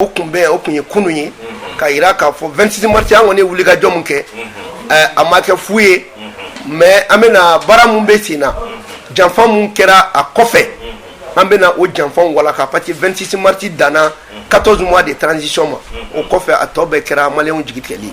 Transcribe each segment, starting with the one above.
o tun bɛ o tun ye kunun ye k'a jira k'a fɔ vingt-six mars an kɔni wulikajɔ min kɛ a ma kɛ fu ye mais an bɛna baara min bɛ sen na janfa min kɛra a kɔfɛ an bɛna o janfa walaka parce que vingt-six mars danna quatorze mois de transition ma o kɔfɛ a tɔ bɛɛ kɛra malien jigitigɛli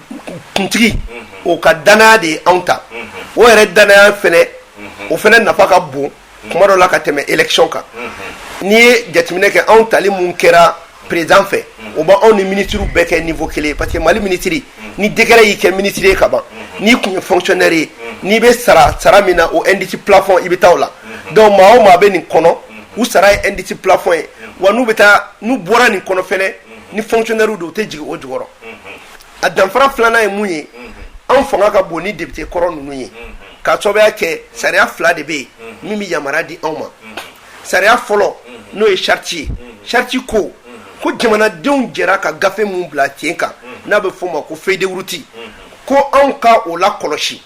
kuntigi o ka dannaya de ye anw ta o yɛrɛ dannaya fana o fana nafa ka bon kuma dɔ la ka tɛmɛ élection kan n'i ye jateminɛ kɛ anw tali min kɛra président fɛ o b' anw ni minisiriw bɛɛ kɛ niveau kelen parce que mali minisiri ni décret y'i kɛ minisiri ye kaban n'i tun ye fonctionnaire ye n'i bɛ sara sara min na o indice plafond i bɛ taa o la donc maa o maa bɛ nin kɔnɔ u sara ye indice plafond ye wa n'u bɛ taa n'u bɔra nin kɔnɔ fana ni fonctionnaire don u tɛ jigin o jukɔrɔ a danfara filanan ye mun ye anw fanga ka bon ni depite kɔrɔ ninnu ye ka sababuya kɛ sariya fila de bɛ yen min bɛ yamaruya di anw ma sariya fɔlɔ n'o ye charte ye charte ko ko jamanadenw jɛra ka gafe min bila sen kan n'a bɛ f'o ma ko feuille de route ko anw ka o lakɔlɔsi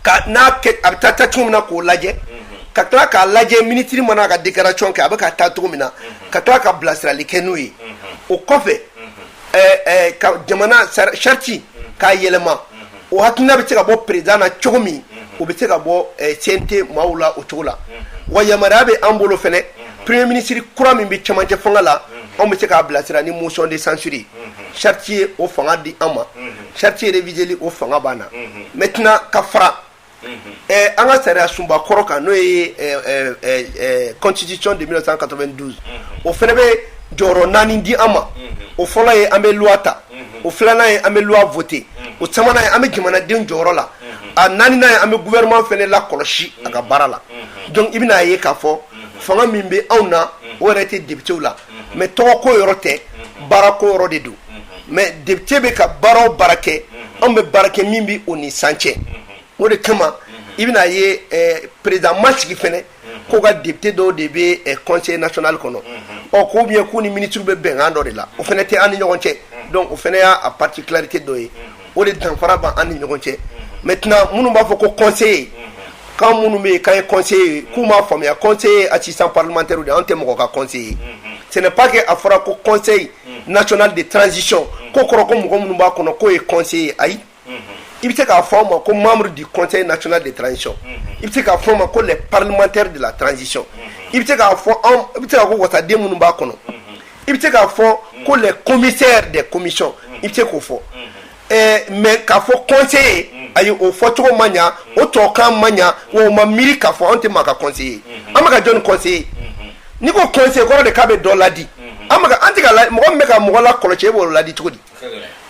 ka n'a a bɛ taa taa cogo min na k'o lajɛ ka tila k'a lajɛ minisiri mana a ka déclaration kɛ a bɛ ka taa cogo min na ka tila ka bilasirali kɛ n'o ye o kɔfɛ jamana charte k'a yɛlɛma o hakilina bɛ se ka bɔ président na cogo min o bɛ se ka bɔ CNT maaw la o cogo la wa yamaruya bɛ an bolo fana premier ministre kura min bɛ cɛmancɛ fanga la anw bɛ se k'a bilasira ni motion de censure charte ye o fanga di an ma charte réviseli o fanga b'an na maintenant ka fara an ka sariya sunba kɔrɔ kan n'o ye constitution de mille neuf cent quatre-vingt-douze o fana bɛ jɔyɔrɔ naani di an ma o fɔlɔ ye an bɛ loi ta o filanan ye an bɛ loi voter o sabanan ye an bɛ jamanaden jɔyɔrɔ la a naaninan ye an bɛ gouvernement fana lakɔlɔsi a ka baara la donc i bɛna a ye k'a fɔ fanga min bɛ anw na o yɛrɛ tɛ depitew la mais tɔgɔko yɔrɔ tɛ baarako yɔrɔ de don mais depite bɛ ka baara o baara kɛ anw bɛ baara kɛ min bɛ o ni san cɛ o de kama i bɛna ye président ma sigi fana ko ka depite dɔw de bɛ conseil national kɔnɔ ɔ ko bien k'u ni minisiri bɛ bɛnkan dɔ de la o fana tɛ an ni ɲɔgɔn cɛ donc o fana y'a particularité dɔ ye o de danfara b'an ni ɲɔgɔn cɛ maintenant minnu b'a fɔ ko conseiller kan minnu bɛ yen k'an ye conseiller k'u m'a faamuya conseiller assistant parlementaire de an tɛ mɔgɔ ka conseiller ce n'est pas que a fɔra ko conseil national de transition ko kɔrɔ ko mɔgɔ minnu b'a kɔnɔ k'o ye conseiller ayi i bɛ se k'a fɔ ma ko membre du conseil national de transition i bɛ se k'a fɔ ma ko parlementaire de la transition i bɛ se k'a fɔ bɛ se ko wasaden minnu b'a kɔnɔ i bɛ se k'a fɔ ko les commissaires des commissions i bɛ se k'o fɔ mais k'a fɔ conseiller ayi o fɔcogo ma ɲɛ o tɔkan ma ɲɛ o ma miiri k'a fɔ an tɛ maa ka conseiller ye an bɛ ka jɔn conseiller n'i ko conseiller kɔrɔ de k'a bɛ dɔ ladi an an tɛ mɔgɔ min bɛ ka mɔgɔ lakɔlɔsi e b'o ladi cogo di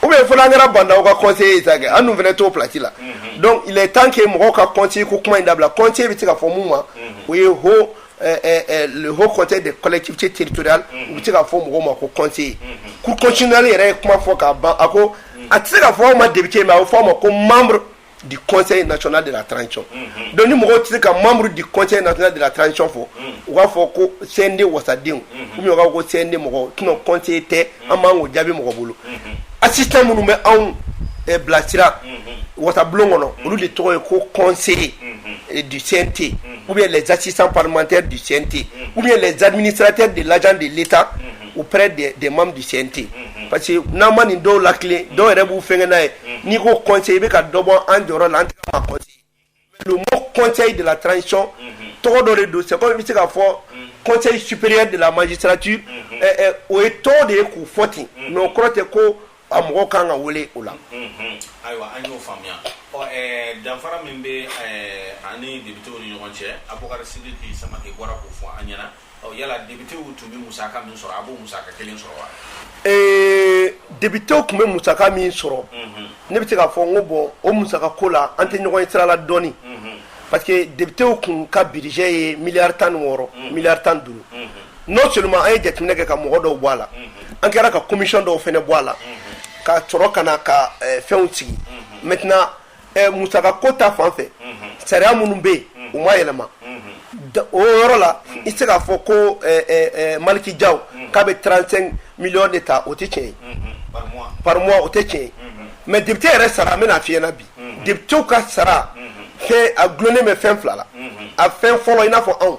ou bien fo n'an kɛra bandaw ka conseiller ye sa kɛ an dun fana t'o plasi la donc il est temps que mɔgɔw ka conseiller ko kuma in dabila conseiller bɛ se ka fɔ min ma o ye h le haut conseil des collectivités territoriales u bɛ se ka fɔ mɔgɔw ma ko conseiller cour constitutionnelle yɛrɛ ye kuma fɔ k'a ban a ko a tɛ se ka fɔ aw ma député mais a bɛ fɔ aw ma ko membre du conseil national de la transition donc ni mɔgɔw tɛ se ka membre du conseil national de la transition fɔ u b'a fɔ ko CNT wasadenw ou bien u b'a fɔ ko CNT mɔgɔw sinon conseiller tɛ an man k'o jaabi mɔgɔ bolo assistant minnu bɛ anw bilasira wasabulon kɔnɔ olu de tɔgɔ ye ko conseiller du CNT. u bɛ z sisan patɛ ducsɛnte u bɛ zadini siratɛ de la de leta u bɛ de man ducsɛnte parce que n'an ma nin dɔw la kelen dɔw yɛrɛ b'u fɛn n'a ye n'i ko kɔnse i bɛ ka dɔbɔ an jɔ la an kɔnse de la tanc tɔgɔ dɔ de don sɛ bɛ se ka fɔ kɔnse supere de la maji sarati o ye tɔw de ye k'u fɔ ten nɔn kɔrɔ tɛ ko a mɔgɔ kan ka wele o la ayiwa an y'o faamuya danfara min bɛ aw ni députéw ni ɲɔgɔn cɛ Abubakar Sidiki Samake bɔra k'o fɔ an ɲɛna yala députéw tun bɛ musaka min sɔrɔ a b'o musaka kelen sɔrɔ wa ee députéw tun bɛ musaka min sɔrɔ ne bɛ se k'a fɔ n ko bon o musaka ko la an tɛ ɲɔgɔn ye sira la dɔɔnini parce que députéw tun ka budget ye miliyari tan ni wɔɔrɔ miliyari tan duuru non seulement an ye jateminɛ kɛ ka mɔgɔ dɔw bɔ a la an kɛra ka commission dɔw fana bɔ a la ka sɔrɔ ka na ka eh, fɛnw sigi maintenant eh, musaka ko ta fan fɛ sariya minnu bɛ yen u ma yɛlɛma Da- o yɔrɔ la i tɛ se k'a fɔ ko eh, eh, eh, Malick Diaw k'a bɛ 35 millions de ta o tɛ tiɲɛ ye par mois o tɛ tiɲɛ ye mais député yɛrɛ sara an bɛna f'i ɲɛna bi députéw ka sara fɛn a dulonnen bɛ fɛn fila la a fɛn fɔlɔ i n'a fɔ anw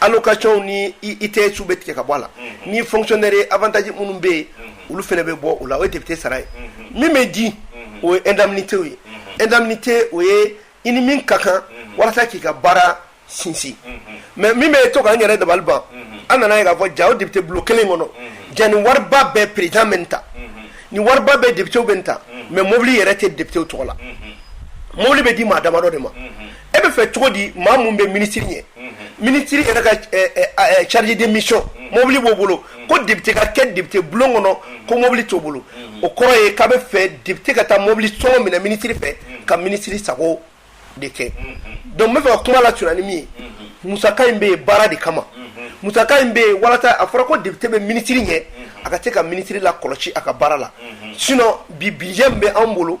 allocation ni ITS bɛ tigɛ ka bɔ a la ni fonctionnaire ye avantage minnu bɛ yen olu fana bɛ bɔ o la o ye député sara ye min bɛ di o ye indemnité ye indemnité o ye i ni min ka kan walasa k'i ka baara sinsin mais min bɛ to k'an yɛrɛ dabali ban an nana a ye k'a fɔ ja o député bulon kelen kɔnɔ ja ni wariba bɛɛ président bɛ ta ni wariba bɛɛ députéw bɛ ta mais mobili yɛrɛ tɛ députéw tɔgɔ la mobili bɛ di maa damadɔ de ma e bɛ fɛ cogo di maa min bɛ minisiri ɲɛ minisiri yɛrɛ ka chargé de mission mobili b'o bolo ko depite ka kɛ depite bulon kɔnɔ ko mɔbili t'o bolo o kɔrɔ ye k'a bɛ fɛ depite ka taa mɔbili sɔngɔ minɛ minisiri fɛ ka minisiri sago de kɛ dɔnku n bɛ fɛ ka kuma lasurunya ni min ye musaka in bɛ yen baara de kama musaka in bɛ yen walasa a fɔra ko depite bɛ minisiri ɲɛ a ka se ka minisiri lakɔlɔsi a ka baara la sinon bi budget bɛ anw bolo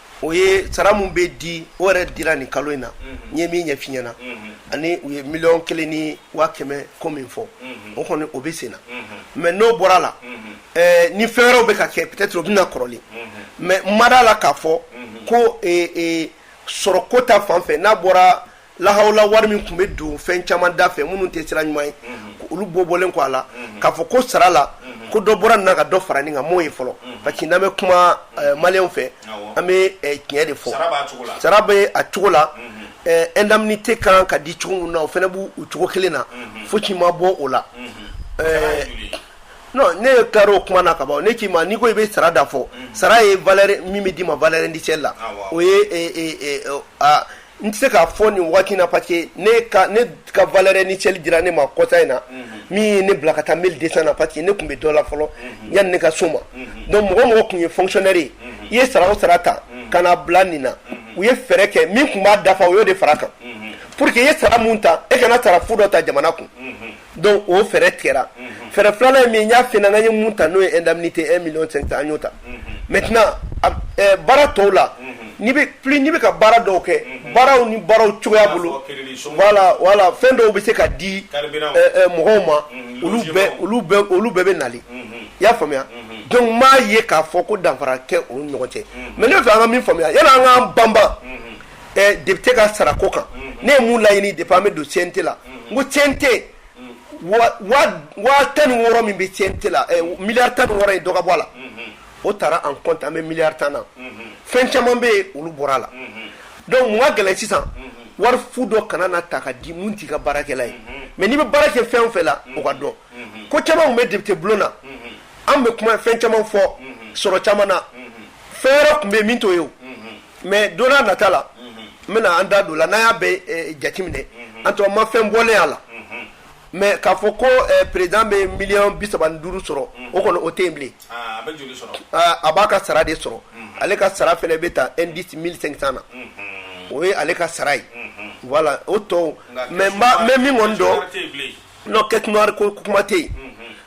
o ye sara min bɛ di o yɛrɛ dira nin kalo in na n ye min ɲɛf'i ɲɛna ani u ye miliyɔn kelen ni waa kɛmɛ ko min fɔ o kɔni o bɛ sen na mɛ n'o bɔra a la ni fɛn wɛrɛw bɛ ka kɛ peut-être o bɛ na kɔrɔlen mɛ n ma da a la k'a fɔ ko sɔrɔ ko ta fan fɛ n'a bɔra lahala wari min tun bɛ don fɛn caman da fɛ minnu tɛ sira ɲuman ye olu bɔ bɔlen kɔ a la k'a fɔ ko sara la ko dɔ bɔra nin na ka dɔ fara nin kan n m'o ye fɔlɔ parce que n'an bɛ kuma eh, maliyɛnw fɛ an bɛ eh, tiɲɛ de fɔ sara bɛ a cogo la eh, indemnité kan ka di cogo min na o fana b'u cogo kelen na fosi ma bɔ o la ne ye tila o kuma na ka ban ne k'i ma n'i ko i bɛ sara da fɔ sara ye min bɛ d'i ma valeur indicielle la o ye N tɛ se k'a fɔ nin waati na parce que ne ka valeur indicielle dira ne ma kɔsa in na min ye ne bila ka taa 1200 na parce que ne tun bɛ dɔ la fɔlɔ yani ne ka s'o ma donc mɔgɔ o mɔgɔ tun ye fonctionnaire ye i ye sara o sara ta ka na bila nin na u ye fɛɛrɛ kɛ min tun b'a dafa u y'o de fara a kan pour que i ye sara min ta e kana sara fu dɔ ta jamana kun. dɔnku o fɛɛrɛ tigɛra fɛɛrɛ filanan ye min ye n y'a f'i ɲɛna n ye min ta n'o ye indemnité un million cinq cents an y'o ta maintenant baara tɔw la n'i bɛ ka baara dɔw kɛ baaraw ni baaraw cogoya bolo voilà voilà fɛn dɔw bɛ se ka di mɔgɔw ma olu olu bɛɛ bɛ nali i y'a faamuya dɔnku n m'a ye k'a fɔ ko danfara kɛ olu ɲɔgɔn cɛ mɛ ne bɛ fɛ an ka min faamuya yani an k'an banban depite ka sara ko kan ne ye min laɲini depuis an bɛ don CNT la n ko CNT tan ni wɔɔrɔ min bɛ CNT la miliyari tan ni wɔɔrɔ ye dɔ ka bɔ a la o taara en compte an bɛ miliyari tan na fɛn caman bɛ yen olu bɔra a la dɔnku min ka gɛlɛn sisan wari fu dɔ kana na ta ka di minnu t'i ka baarakɛla ye mɛ n'i bɛ baara kɛ fɛn o fɛn la o ka dɔn ko caman tun bɛ depite bulon na an bɛ kuma fɛn caman fɔ sɔrɔ caman na fɛn wɛrɛ tun bɛ yen min t'o ye mais don na nata la n bɛna an da don o la n'an y'a bɛɛ eh, jateminɛ an tɔ ma fɛn bɔlen a la mais k'a fɔ ko eh, président bɛ miliyɔn bi saba ni duuru sɔrɔ o kɔni o tɛ yen bilen Ah, a bɛ joli sɔrɔ Ah, a b'a ka sara de sɔrɔ ale ka sara fɛnɛ bɛ ta indice 1500 na o ye ale ka sara ye voilà o tɔw nka mais n b'a n bɛ min kɔni dɔn caisse noire tɛ yen bilen Non caisse noire ko kuma tɛ yen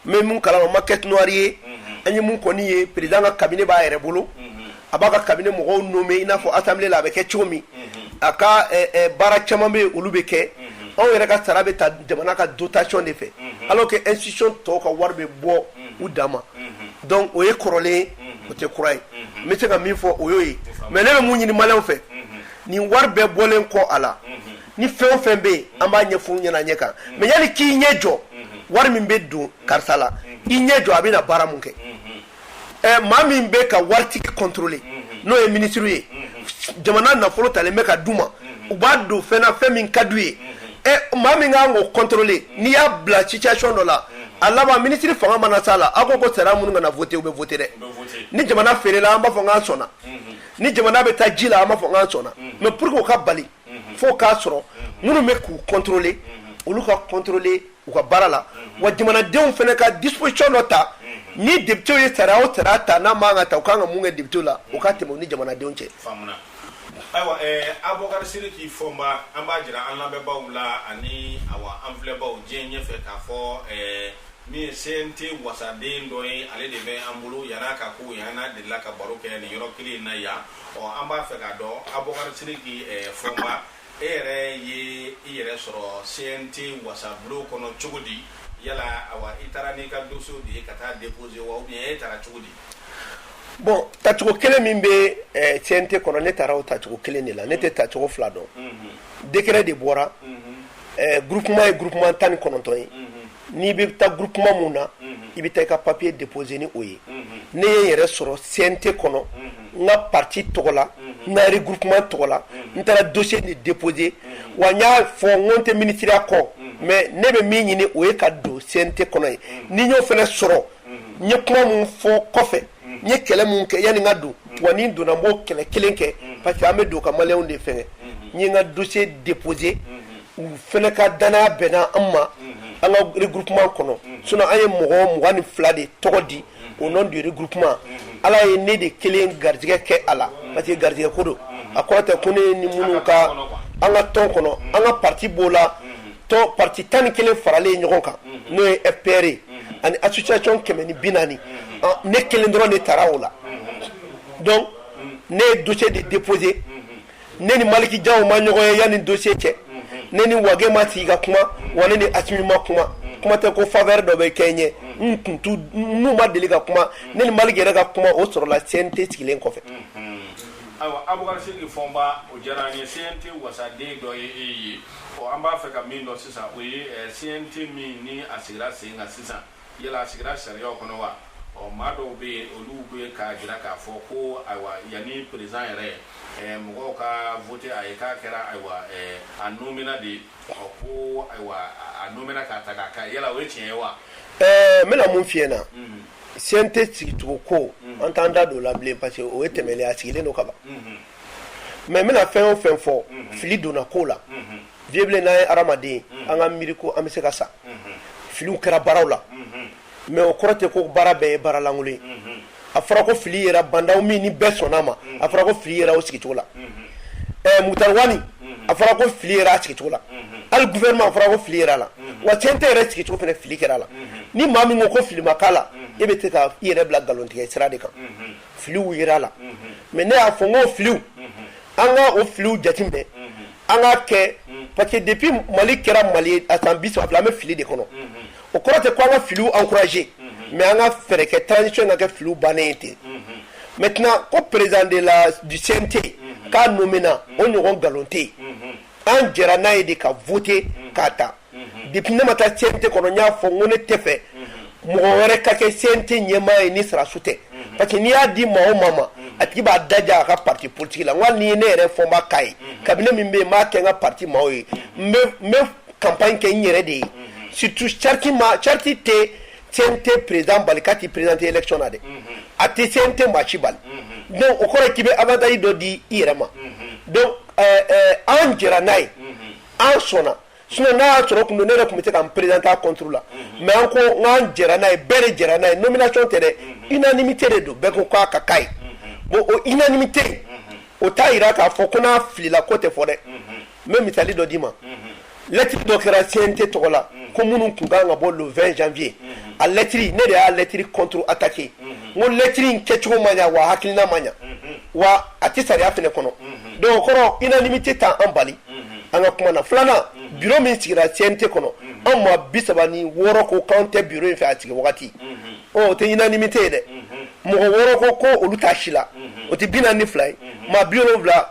mais mun kala o ma caisse noire ye an ye mun kɔni ye président ka cabinet b'a yɛrɛ bolo a b'a ka cabinet mɔgɔw nommer i n'a fɔ assemblée la a bɛ kɛ cogo min a ka baara caman bɛ olu bɛ kɛ anw yɛrɛ ka sara bɛ ta jamana ka dotation de fɛ alors que institution tɔw ka wari bɛ bɔ u dama donc o ye kɔrɔlen o tɛ kura ye n bɛ se ka min fɔ o y'o ye mais ne bɛ mun ɲini maliyɛnw fɛ nin wari bɛɛ bɔlen kɔ a la ni fɛn o fɛn bɛ yen an b'a ɲɛfɔ ɲɛna ɲɛ kan mais yanni k'i ɲɛ jɔ wari min bɛ don karisa la i ɲɛ jɔ a bɛna baara min kɛ ɛ maa min bɛ ka waritigi contrôler n'o ye minisiri ye jamana nafolo talen bɛ ka d'u ma u b'a don fɛn na fɛn min ka d'u ye ɛ maa min ka k'o contrôler n'i y'a bila situation dɔ la a laban minisiri fanga mana s'a la aw ko ko sariya minnu kana voter u bɛ voter dɛ ni jamana feerela an b'a fɔ n k'an sɔnna ni jamana bɛ taa ji la an b'a fɔ n k'an sɔnna mais pour que o ka bali fo k'a sɔrɔ minnu bɛ k'u contrôler olu ka contrôler u ka baara la wa jamanadenw fana ka disposition dɔ ta ni députéw ye sariya o sariya ta n'a man kan ta u ka kan ka mun kɛ députéw la o ka tɛmɛ u ni jamanadenw cɛ ayiwa abubakar siriki fɔnba an b'a jira an lamɛnbaa la ani an filɛbaw diɲɛ ɲɛ fɛ k'a fɔ min ye cnt wasaden dɔ ye ale de bɛ an bolo yan a ka ko yan n'a delila ka baro kɛ ni yɔrɔ kelen in na yan ɔ an b'a fɛ k'a dɔn abubakar siriki eh, fɔnba e yɛrɛ ye i yɛrɛ sɔrɔ cnt wasabulon kɔnɔ cogo di yala awa i taara n'i ka dossierw de ye ka taa déposer wa ou bien e taara cogo di bon tacogo kelen min bɛ eh, cnt kɔnɔ ne taara o tacogo kelen de la ne tɛ tacogo fila dɔn mhm. décret de bɔra mhm. eh, groupement ye groupement tan ni kɔnɔntɔn ye mhm. n'i bɛ taa groupement min na i bɛ taa i ka papier déposer ni o ye ne ye n yɛrɛ sɔrɔ CNT kɔnɔ n ka parti tɔgɔ la n ka regroupement tɔgɔ la n taara dossier de déposer wa n y'a fɔ n ko n tɛ ministeriya kɔ mais ne bɛ min ɲini o ye ka don CNT kɔnɔ ye ni n y'o fana sɔrɔ ye kuma min fɔ kɔfɛ n ye kɛlɛ min kɛ yanni n ka don wa ni n donna n b'o kɛlɛ kelen kɛ parce que an bɛ don ka maliyɛnw de fɛngɛ n ye n ka dossier déposer u fana ka dannaya bɛnna an ma an ka regroupement kɔnɔ sinon an ye mɔgɔ mugan ni fila de tɔgɔ di au nom du regroupement ala ye ne de kelen garijɛgɛ kɛ a la parce que garijɛgɛ ko don a kɔrɔ tɛ ko ne ni minnu ka an ka tɔn kɔnɔ an ka parti b'o la tɔn parti tan ni kelen faralen ye ɲɔgɔn kan n'o ye fpr ye ani association kɛmɛ ni bi naani ne kelen dɔrɔn de tara o la donc ne ye dossier de déposer ne ni maliki jaw ma ɲɔgɔn ye yanni dossier cɛ ne ni wage ma sigi ka kuma wa ne ni asimi ma kuma kuma tɛ ko faveur dɔ bɛ kɛ n ye n kun t'u n'u ma deli ka kuma ne ni maliki yɛrɛ ka kuma o sɔrɔla cnt sigilen kɔfɛ ayiwa abubakar siriki fɔnba o diyara an ye cnt wasaden dɔ ye e ye Ɔ an b'a fɛ ka min dɔn sisan o ye ɛ, CNT min ni a sigira sen kan sisan, yala a sigira sariyaw kɔnɔ wa? Ɔ maa dɔw bɛ yen, olu bɛ k'a jira k'a fɔ ko ayiwa, yanni peresidan yɛrɛ ɛ, mɔgɔw ka voter a ye, k'a kɛra ayiwa ɛ, a nomena de ye, ɔ ko ayiwa, a nomena k'a ta k'a k'a ye. Yala o ye tiɲɛ ye wa? Ɛɛ, n bɛna mun f'i ɲɛna, CNT sigicogo ko, an t'an da don o la bilen parce que o ye tɛmɛlen ye, a sigilen don ka ban. mais n bɛna fɛn o fɛn fɔ fili donna ko la Vieux Bilen n'an ye hadamaden an ka miiri ko an bɛ se ka sa filiw kɛra baaraw la mais o kɔrɔ tɛ ko baara bɛɛ ye baaralankolon ye a fɔra ko fili yera Ba Ndaw min ni bɛɛ sɔnna a ma a fɔra ko fili yera o sigicogo la Moctar Ouane a fɔra ko fili yera a sigicogo la hali gouvernement a fɔra ko fili yera a la wa CNT yɛrɛ sigicogo fana fili kɛra a la ni maa min ko ko fili ma k'a la e bɛ se ka i yɛrɛ bila nkalontigɛ sira de kan filiw yera a la mais ne y'a fɔ n ko filiw an ka o filiw jateminɛ an k'a kɛ parce que depuis Mali kɛra Mali ye a san bi saba fila an bɛ fili de kɔnɔ o kɔrɔ tɛ ko an ka filiw encourager mais an ka fɛɛrɛ kɛ transition ka kɛ filiw bannen ye ten maintenant ko président de la du CNT k'a nomina o ɲɔgɔn nkalon tɛ yen an jɛra n'a ye de ka voter k'a ta depuis ne ma taa CNT kɔnɔ n y'a fɔ n ko ne tɛ fɛ mɔgɔ wɛrɛ ka kɛ CNT ɲɛmaa ye ni sɔrɔdasiw tɛ parce que n'i y'a di maa o maa ma a tigi b'a daja a ka parti politique la n ko hali n'i ye ne yɛrɛ Fomba k'a ye cabinet min bɛ yen n b'a kɛ n ka parti maaw ye n bɛ n bɛ campagne kɛ n yɛrɛ de ye surtout charte ma charte tɛ CNT président bali k'a t'i présenter élection na dɛ a tɛ CNT maa si bali donc o kɔrɔ k'i bɛ avantage dɔ di i yɛrɛ ma donc an jɛra n'a ye an sɔnna sinon n'a y'a sɔrɔ kun don ne yɛrɛ tun bɛ se ka n présenter a contre la mais an ko n an an jɛra n'a ye bɛɛ de jɛra n'a ye nomination tɛ dɛ unanimité de don bɛɛ ko k'a ka k'a ye bon o unanimité o t'a yira k'a fɔ ko n'a filila ko tɛ fɔ dɛ n bɛ misali dɔ d'i ma lettre dɔ kɛra CNT tɔgɔ la ko minnu tun kan ka bɔ le vingt janvier a lettre ne de y'a lettre contre-attaquer n ko lettre in kɛcogo ma ɲɛ wa hakilina ma ɲɛ wa a tɛ sariya fɛnɛ kɔnɔ donc o kɔrɔ unanimité t'an bali an ka kuma na filanan bureau min sigira CNT kɔnɔ an maa bi saba ni wɔɔrɔ ko k'an tɛ bureau in fɛ a sigi wagati o tɛ unanimité ye dɛ mɔgɔ wɔɔrɔ ko ko olu t'a si la o tɛ bi naani ni fila ye maa bi wolonwula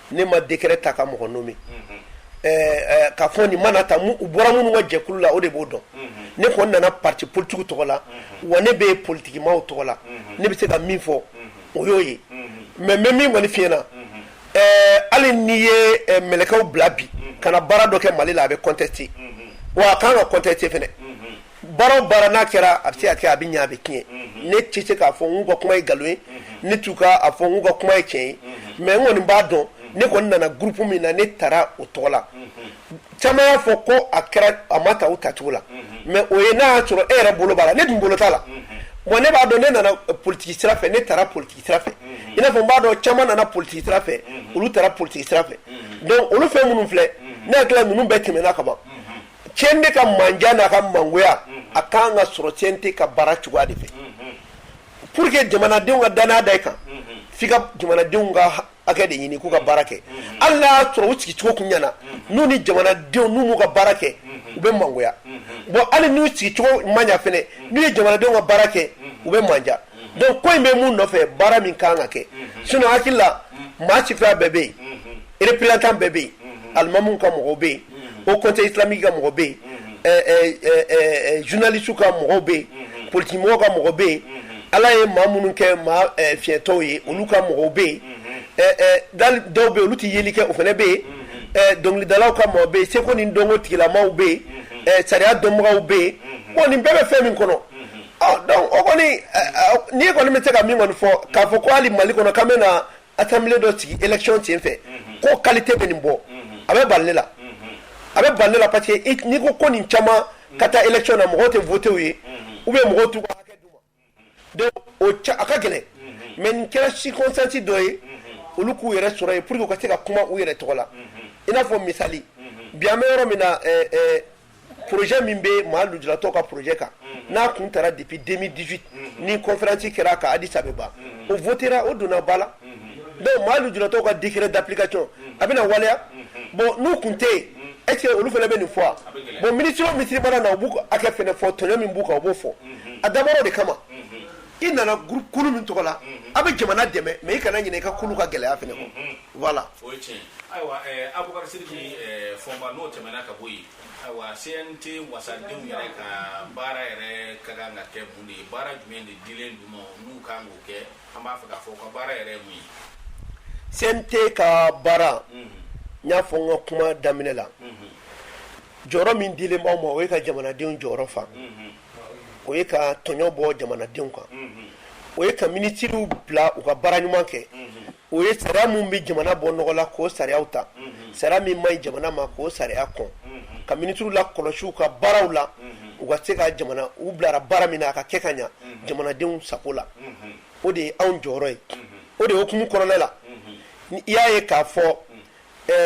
ne ma décret ta ka mɔgɔ nommer ɛɛ k'a fɔ nin mana ta u bɔra minnu ka jɛkulu la o de b'o dɔn ne kɔni nana parti politique tɔgɔ la wa ne bɛ politique maaw tɔgɔ la ne bɛ se ka min fɔ o y'o ye mais n bɛ min kɔni f'i ɲɛna ɛɛ hali n'i ye mɛlɛkɛw bila bi ka na baara dɔ kɛ Mali la a bɛ contester wa a ka kan ka contester fɛnɛ. baara o baara n'a kɛra a bɛ se ka kɛ a bɛ ɲɛ a bɛ tiɲɛ ne tɛ se k'a fɔ n'u ka kuma ye nkalon ye ne t'u ka a fɔ n'u ka kuma ye tiɲɛ ye mais n kɔni b'a dɔn ne kɔni nana groupe min na ne taara o tɔgɔ la caman y'a fɔ ko a kɛra a ma ta u tacogo la mais o ye n'a y'a sɔrɔ e yɛrɛ bolo b'a la ne dun bolo t'a la bon ne b'a dɔn ne nana politigi sira fɛ ne taara politigi sira fɛ i n'a fɔ n b'a dɔn caman nana politigi sira fɛ olu taara politigi sira fɛ donc olu fɛn minnu filɛ ne hakili la ninnu bɛɛ tɛmɛna kaban CNT ka mandiya n'a ka mangoya a kan ka sɔrɔ CNT ka baara cogoya de fɛ pour que jamanadenw ka danaya da i kan f'i ka jamanadenw ka hakɛ de ɲini k'u ka baara kɛ hali n'a y'a sɔrɔ u sigicogo kun ɲɛna n'u ni jamanadenw n'u m'u ka baara kɛ u bɛ mangoya bon hali n'u sigicogo ma ɲa fɛnɛ n'u ye jamanadenw ka baara kɛ u bɛ mandiya donc ko in bɛ mun nɔfɛ baara min kan ka kɛ sinon hakili la maa sifiya bɛɛ bɛ yen représentant bɛɛ bɛ yen alimamuw ka mɔgɔw bɛ yen Haut Conseil islamique ka mɔgɔ bɛ yen journalistes ka mɔgɔw bɛ yen politigimɔgɔw ka mɔgɔ bɛ yen ala ye maa minnu kɛ maa fiɲɛtɔw ye olu ka mɔgɔw bɛ yen dɔw bɛ yen olu tɛ yeli kɛ o fana bɛ yen dɔnkilidalaw ka mɔgɔ bɛ yen seko ni dɔnko tigilamaw bɛ yen sariya dɔnbagaw bɛ yen bon nin bɛɛ bɛ fɛn min kɔnɔ Donc o kɔni n'i kɔni bɛ se ka min kɔni fɔ k'a fɔ ko hali mali kɔnɔ k'an bɛ na assemblée dɔ sigi élection sen fɛ ko qualité bɛ nin bɔ a bɛ bali ne la a bɛ bali ne la parce que n'i ko ko nin caman ka taa élection na mɔgɔ tɛ voté u ye ou bien mɔgɔw t'u ka hakɛ d'u ma donc o a ka gɛlɛn mais nin kɛra circonstance dɔ ye olu k'u yɛrɛ sɔrɔ yen pour que u ka se ka kuma u yɛrɛ tɔgɔ la i n'a fɔ misali bi an bɛ yɔrɔ min na pjɛ min bɛ maa jtɔ ka pjɛ kan n'a tun taara dibi denmi disi ni kɔnfɛransi kɛra ka disa ban o ft o donna ba la dɔnku maa jtɔ ka di kira dapkay a bɛna na waleya bɔn n'u tun tɛ yen e olu fana bɛ nin fɔ bon minic misi mana na u b' a kɛ f fɔ tɔnɲɔ min b'u kan u b'o fɔ a dabɔw de kama i nana groupe kulu min tɔgɔ la a bɛ jamana dɛmɛ mais i kana ɲina i ka kulu ka gɛlɛya fana kɔ voilà o ye tiɲɛ ayiwa Abubakar Sidiki Fɔnba n'o tɛmɛna ka bɔ yen ayiwa CNT wasadenw yɛrɛ ka baara yɛrɛ ka kan ka kɛ mun de ye baara jumɛn de dilen d'u ma n'u kan k'o kɛ an b'a fɛ k'a fɔ u ka baara yɛrɛ ye mun ye CNT ka baara n y'a fɔ n ka kuma daminɛ la jɔyɔrɔ min dilen b'an ma o ye ka jamanadenw jɔyɔrɔ fa o ye ka tɔɲɔ bɔ jamanadenw kan o ye ka minisiriw bila u ka baara ɲuman kɛ o ye sariya min bɛ jamana bɔ nɔgɔ la k'o sariyaw ta sariya min man ɲi jamana ma k'o sariya kɔn ka minisiriw lakɔlɔsi u ka baaraw la u ka se ka jamana u bilara baara min na a ka kɛ ka ɲɛ jamanadenw sago la o de ye anw jɔyɔrɔ ye o de ye o hukumu kɔnɔna la i y'a ye k'a fɔ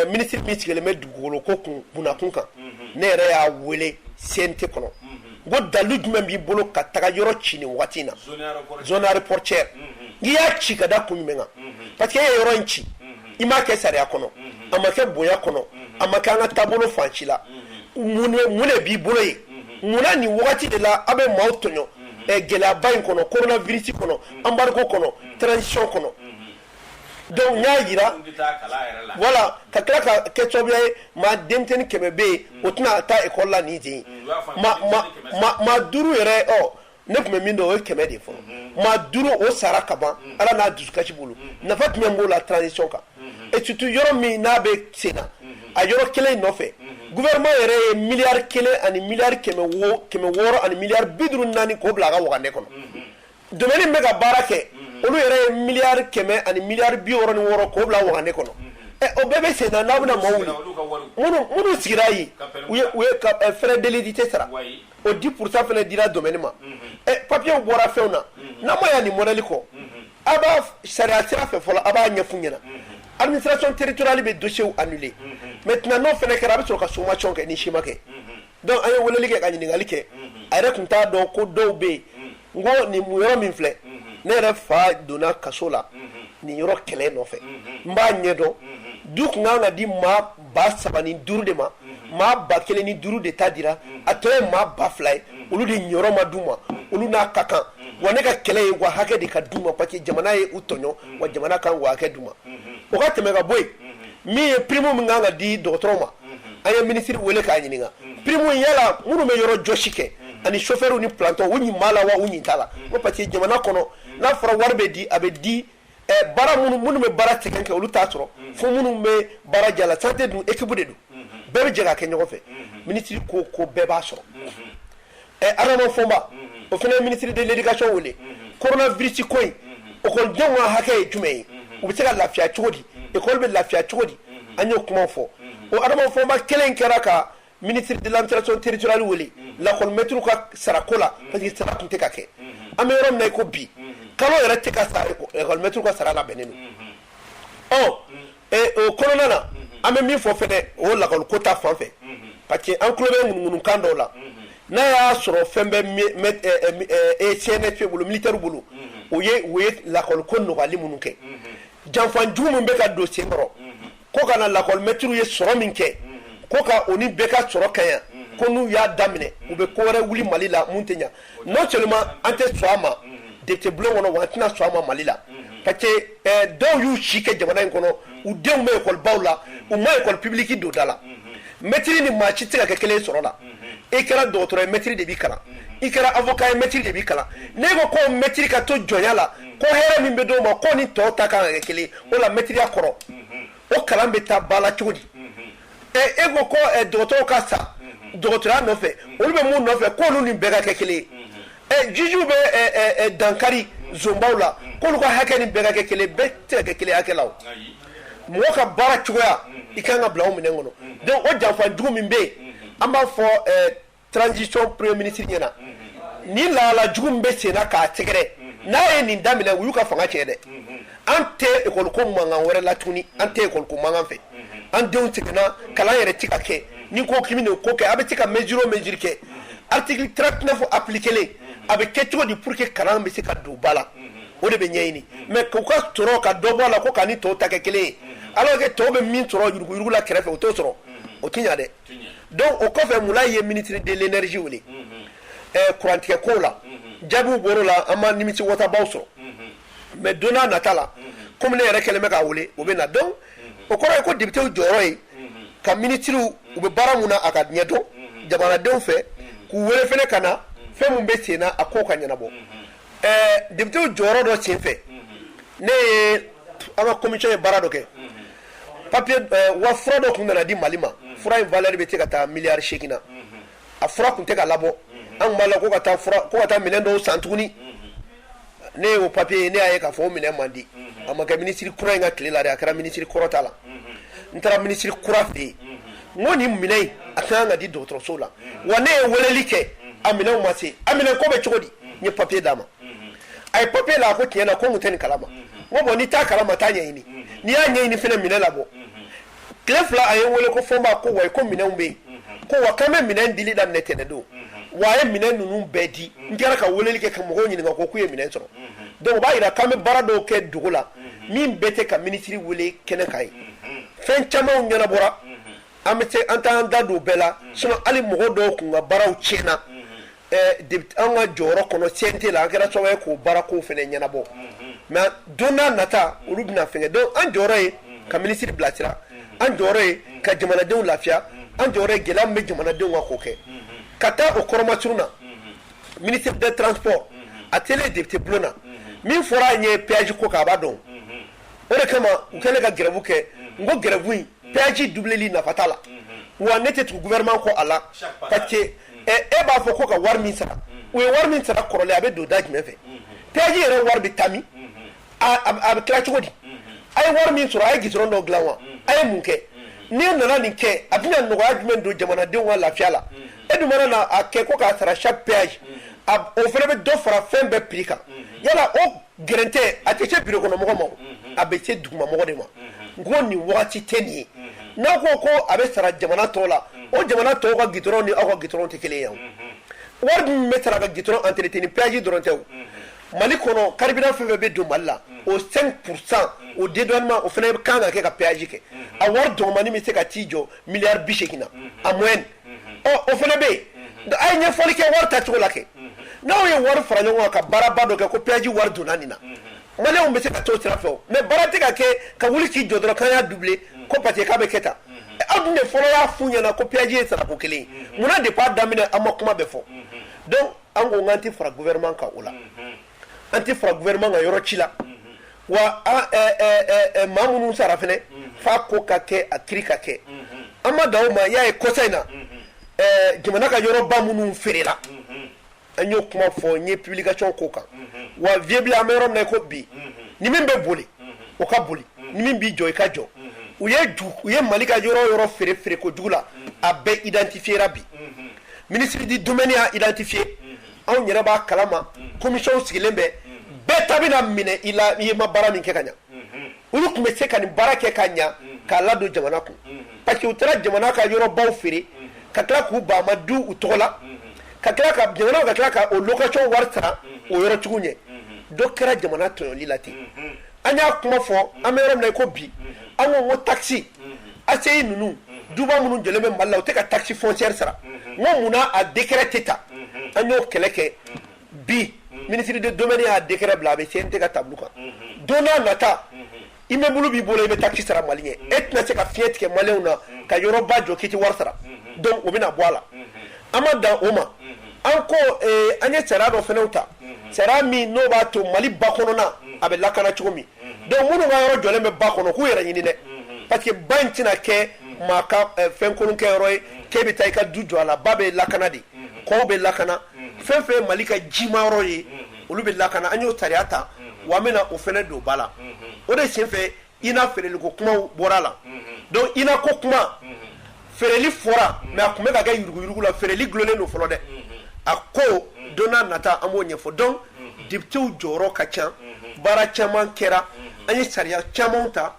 Minisiri min sigilen bɛ dugukolo ko kunnakun kan ne yɛrɛ y'a weele CNT kɔnɔ ko dalu jumɛn b'i bolo ka taga yɔrɔ ci nin waati in na zone aéroportuaire n'i y'a ci ka da kun jumɛn kan parce que e ye yɔrɔ in ci i m'a kɛ sariya kɔnɔ a ma kɛ bonya kɔnɔ a ma kɛ an ka taabolo fan si la mun de b'i bolo ye munna nin waati de la aw bɛ maaw tɔɲɔ gɛlɛyaba in kɔnɔ korona virisi kɔnɔ embargo kɔnɔ transition kɔnɔ Dɔnku n y'a jira voilà ka tila ka kɛ sababuya ye maa denmisɛnnin kɛmɛ bɛ yen o tɛna taa ekɔli la nin sen maa duuru yɛrɛ ne tun bɛ min dɔn o ye kɛmɛ de fɔlɔ maa duuru o sara kaban ala n'a dusukasi bolo nafa jumɛn b'o la transition kan et surtout yɔrɔ min n'a bɛ sen na a yɔrɔ kelen nɔfɛ gouvernement yɛrɛ ye miliyari kelen ani miliyari kɛmɛ wɔɔrɔ ani miliyari bi duuru ni naani k'o bila a ka wagane kɔnɔ domaine min bɛ ka baara kɛ olu yɛrɛ ye miliyari kɛmɛ ani miliyari bi wɔɔrɔ ni wɔɔrɔ k'o bila wagane kɔnɔ o bɛɛ bɛ sen na n'aw bɛna maaw wuli minnu sigira yen u ye frais d'édilité sara o dix pour cent fana dira domaine ma papiyew bɔra fɛnw na n'a ma yan nin modèle kɔ aw b'a sariya sira fɛ fɔlɔ a b'a ɲɛf'u ɲɛna administration territoriale bɛ dossier annuler maintenant n'o fana kɛra a bɛ sɔrɔ ka sommation kɛ ni ci ma kɛ dɔnku an ye weleli kɛ ka ɲininkali kɛ a yɛrɛ tun t'a dɔn ko dɔw bɛ yen N ko nin yɔrɔ min filɛ ne yɛrɛ fa donna kaso la nin yɔrɔ kɛlɛ nɔfɛ n b'a ɲɛdɔn du tun kan ka di maa ba saba ni duuru de ma maa ba kelen ni duuru de ta dira a tɔ ye maa ba fila ye olu de niyɔrɔ ma d'u ma olu n'a ka kan wa ne ka kɛlɛ ye wa hakɛ de ka d'u ma parce que jamana ye u tɔɲɔ wa jamana ka wa hakɛ d'u ma o ka tɛmɛ ka bɔ yen min ye prime min kan ka di dɔgɔtɔrɔ ma an ye minisiri weele k'a ɲininka prime yala minnu bɛ yɔrɔ jɔsi kɛ ani sofɛriw ni planton u ɲin b'a la wa u ɲin t'a la ko parce que jamana kɔnɔ n'a fɔra wari bɛ di a bɛ di baara minnu minnu bɛ baara sɛgɛn kɛ olu t'a sɔrɔ fo minnu bɛ baara jala santé dun ekibu de don bɛɛ bɛ jɛ ka kɛ ɲɔgɔn fɛ minisiri ko ko bɛɛ b'a sɔrɔ ɛ adama fɔnba o fana ye minisiri de l'éducation wele korona virisi ko in ekɔlidenw ka hakɛ ye jumɛn ye u bɛ se ka lafiya cogo di ekɔli bɛ lafiya cogo di an y'o kuma fɔ o adama fɔnba kelen kɛra ka Minisiri de l'administration territoriale wele lakɔlimɛtiriw ka sarako la parce que sara tun tɛ ka kɛ an bɛ yɔrɔ min na i ko bi kalo yɛrɛ tɛ ka sa lakɔlimɛtiri ka sara labɛnnen don ɔ o kɔnɔna na an bɛ min fɔ fɛnɛ o lakɔliko ta fan fɛ parce que an tulo bɛ ŋunuŋunukan dɔw la n'a y'a sɔrɔ fɛn bɛ CNSP bolo militaire bolo u ye u ye lakɔliko nɔgɔyali minnu kɛ janfan jugu min bɛ ka don sen kɔrɔ ko ka na lakɔlimɛtiriw ye sɔrɔ min kɛ ko ka o ni bɛɛ ka sɔrɔ kaɲa ko n'u y'a daminɛ u bɛ ko wɛrɛ wuli mali la mun tɛ ɲa non seulement an tɛ sɔn a ma depite bulon kɔnɔ wa an tɛna sɔn a ma mali la parce que eh, dɔw y'u si kɛ jamana in kɔnɔ u denw bɛ ekɔlibaw la u ma ekɔli pibiliki don da la mɛtiri ni maa si tɛ se ka kɛ kelen ye sɔrɔ la i kɛra dɔgɔtɔrɔ ye mɛtiri de b'i kalan i kɛra avocat ye mɛtiri de b'i kalan n'e ko ko mɛtiri ka to jɔnya la ko hɛrɛ min bɛ d'o ma k'o ni tɔw ta kan ka kɛ kelen ye o la mɛtiriya kɔrɔ o kalan bɛ taa ba la cogo di e ko ko dɔgɔtɔrɔw ka sa dɔgɔtɔrɔya nɔfɛ olu bɛ mun nɔfɛ k'olu ni bɛɛ ka kɛ kelen ye jiju bɛ dankari zonbaw la k'olu ka hakɛ ni bɛɛ ka kɛ kelen ye bɛɛ tɛ se ka kɛ kelen hakɛ la mɔgɔ ka baara cogoya i ka kan ka bila o minɛn kɔnɔ donc o janfanjugu min bɛ yen an b'a fɔ eh, transition premier ministre ɲɛ na nin lahala jugu min bɛ senna k'a sɛgɛrɛ n'a ye nin daminɛ u y'u ka fanga tiɲɛ dɛ an tɛ ekɔli ko mankan wɛrɛ la tuguni an tɛ ekɔli ko mankan fɛ an denw sɛgɛnna kalan yɛrɛ ti ka kɛ n'i ko k'i bɛ nin ko kɛ a bɛ se ka mesure o mesure kɛ article 39 appliquer len a bɛ kɛ cogo di pour que kalan bɛ se ka don ba la o de bɛ ɲɛɲini mais k'u ka sɔrɔ ka dɔ bɔ a la ko k'a ni tɔw ta kɛ kelen ye alors que tɔw bɛ min sɔrɔ yuruguyurugu la kɛrɛfɛ o t'o sɔrɔ o tɛ ɲa dɛ donc o kɔfɛ mulayi ye ministre de l'énergie wele ɛɛ kurantigɛ kow la jaabiw bɔr'o la an ma nimisi wasabaw sɔrɔ mais don n'a nata la komi ne yɛrɛ kɛlen bɛ k'a wele o bɛ na donc o kɔrɔ ye ko depitew jɔyɔrɔ ye ka minisiriw u bɛ baara min na a ka ɲɛdɔn jamanadenw fɛ k'u wele fana ka na fɛn min bɛ senna a kow ka ɲɛnabɔ depitew jɔyɔrɔ dɔ sen fɛ ne ye an ka komisiyɔn ye baara dɔ kɛ papiye wa fura dɔ tun nana di mali ma fura in valeur bɛ se ka taa miliyari segin na a fura tun tɛ ka labɔ an tun b'a la ko ka taa minɛn dɔw san tuguni ne y'o papiye ye ne y'a ye k'a fɔ o minɛn ma di a ma kɛ minisiri kura in ka tile la a kɛra minisiri kɔrɔ ta la n taara minisiri kura fɛ yen n ko nin minɛn in a ka kan ka di dɔgɔtɔrɔso la wa ne ye weleli kɛ a minɛnw ma se a minɛn ko bɛ cogo di n ye papiye d'a ma a ye papiye la a ko tiɲɛ na ko n tun tɛ nin kalama n ko bɔn n'i t'a kalama taa ɲɛɲini n'i y'a ɲɛɲini fana minɛn labɔ tile fila a ye n wele ko fɔnba ko wa ko minɛnw bɛ yen ko wa k'an bɛ minɛn dili daminɛ tɛnɛ don wa a ye minɛn ninnu bɛɛ di n kɛra ka weleli kɛ ka mɔgɔw ɲininka ko k'u ye minɛn sɔrɔ donc o b'a jira k'an bɛ baara dɔw kɛ dugu la min bɛɛ tɛ ka minisiri wele kɛnɛ kan ye fɛn camanw ɲɛnabɔra an bɛ se an t'an da don bɛɛ la sinon hali mɔgɔ dɔw tun ka baaraw tiɲɛna anw ka jɔyɔrɔ kɔnɔ CNT la an kɛra sababu ye k'o baarako fana ɲɛnabɔ mais don n'a nata olu bɛna fɛngɛ donc an jɔyɔrɔ ye ka minisiri bilasira an jɔyɔrɔ ye ka jamanadenw lafiya an jɔyɔrɔ ye gɛlɛya min bɛ jamanadenw kan k'o kɛ ka taa o kɔrɔmasurun na ministre des transports a tele député bulon na min fɔra an ye péage ko kan a b'a dɔn o de kama u kɛlen ka grève kɛ n ko grève in péage doubleli nafa t'a la wa ne tɛ tugu gouvernement kɔ a la parce e b'a fɔ ko ka wari min sara u ye wari min sara kɔrɔlen a bɛ don da jumɛn fɛ péage yɛrɛ wari bɛ taa min a bɛ tila cogo di a ye wari min sɔrɔ a ye goudron dɔ dilan wa a ye mun kɛ n'i nana nin kɛ a bɛna nɔgɔya jumɛn don jamanadenw ka lafiya la e dun mana na a kɛ ko k'a sara chaque péage o fana bɛ dɔ fara fɛn bɛɛ prix kan yala o Gɛrɛntɛ a tɛ se bureau kɔnɔ mɔgɔ ma o, unhun, a bɛ se duguma mɔgɔ de ma, unhun, n ko nin wagati tɛ nin ye, unhun, n'aw ko ko a bɛ sara jamana tɔw la, unhun, o jamana tɔw ka goudron ni aw ka goudron tɛ kelen ye o, unhun, wari min bɛ sara ka goudron entretien péage dɔrɔn tɛ o, unhun, Mali kɔnɔ carburant fɛn o fɛn bɛ don Mali la, unhun, o 5 pour 100 o dédouanement o fana ka kan ka kɛ ka péage kɛ, unhun, a wari dɔgɔmannin bɛ se ka t'i jɔ milliard 80 na, unhun, en moyenne o fana bɛ yen a ye ɲɛfɔli kɛ wari tacogo la kɛ n'aw ye wari fara ɲɔgɔn kan ka baaraba dɔ kɛ ko péage wari donna nin na maliyɛnw bɛ se ka t'o sira fɛ o mais baara tɛ ka kɛ ka wuli k'i jɔ dɔrɔn k'an y'a doubler ko parce qu'a bɛ kɛ tan aw dun de fɔlɔ y'a f'u ɲɛna ko péage ye sarako kelen ye munna depuis a daminɛ aw ma kuma bɛɛ fɔ donc an ko k'an tɛ fara gouvernement kan o la an tɛ fara gouvernement kan yɔrɔ ci la wa maa minnu sara fɛnɛ f'a ko ka kɛ a kiiri ka kɛ an ma dan o ma y'a ye kɔsa in na jamana ka yɔrɔba minnu feerela an y'o kuma fɔ n ye publication k'o kan wa viable an bɛ yɔrɔ min na i ko bi ni min bɛ boli o ka boli ni min b'i jɔ i ka jɔ u ye u ye mali ka yɔrɔ yɔrɔ feere feere kojugu la a bɛɛ identifiera bi ministre de domaine y'a identifié anw yɛrɛ b'a kalama commission sigilen bɛ bɛɛ ta bɛna minɛ i la i ye ma baara min kɛ ka ɲa olu tun bɛ se ka nin baara kɛ ka ɲa k'a ladon jamana kun parce que u taara jamana ka yɔrɔbaw feere ka tila k'u ba ma du u tɔgɔ la ka tila ka jamana ka tila ka o location wari sara o yɔrɔtigiw ɲɛ dɔ kɛra jamana tɔɲɔli la ten an y'a kuma fɔ an bɛ yɔrɔ min na i ko bi an ko n ko taxe ACI ninnu duba minnu jɔlen bɛ Mali la u tɛ ka taxe foncière sara n ko mun na a décret tɛ ta an y'o kɛlɛ kɛ bi ministre de domaine y'a décret bila a bɛ CNT ka table kan don n'a nata immeuble b'i bolo i bɛ taxe sara Mali ɲɛ e tɛna se ka fiɲɛ tigɛ maliyɛnw na ka yɔrɔba jɔ k'i tɛ wari sara donc o bɛna bɔ a la an ma dan o ma. An ko an ye sariya dɔ fana ta sariya min n'o b'a to mali ba kɔnɔna a bɛ lakana cogo min donc minnu ka yɔrɔ jɔlen bɛ ba kɔnɔ k'u yɛrɛ ɲini dɛ parce que ba in tɛna kɛ maa ka fɛn kolon kɛyɔrɔ ye k'e bɛ taa i ka du jɔ a la ba bɛ lakana de kɔw bɛ lakana fɛn fɛn ye mali ka jima yɔrɔ ye olu bɛ lakana an y'o sariya ta wa an bɛna o fana don ba la o de senfɛ INA feereli ko kumaw bɔra la donc INA ko kuma feereli fɔra mais a tun bɛ ka kɛ yuruguyurugu la feereli dulonnen don fɔlɔ dɛ a ko don n'a nata an b'o ɲɛfɔ donc députéw jɔyɔrɔ ka ca baara caman kɛra an ye sariya camanw ta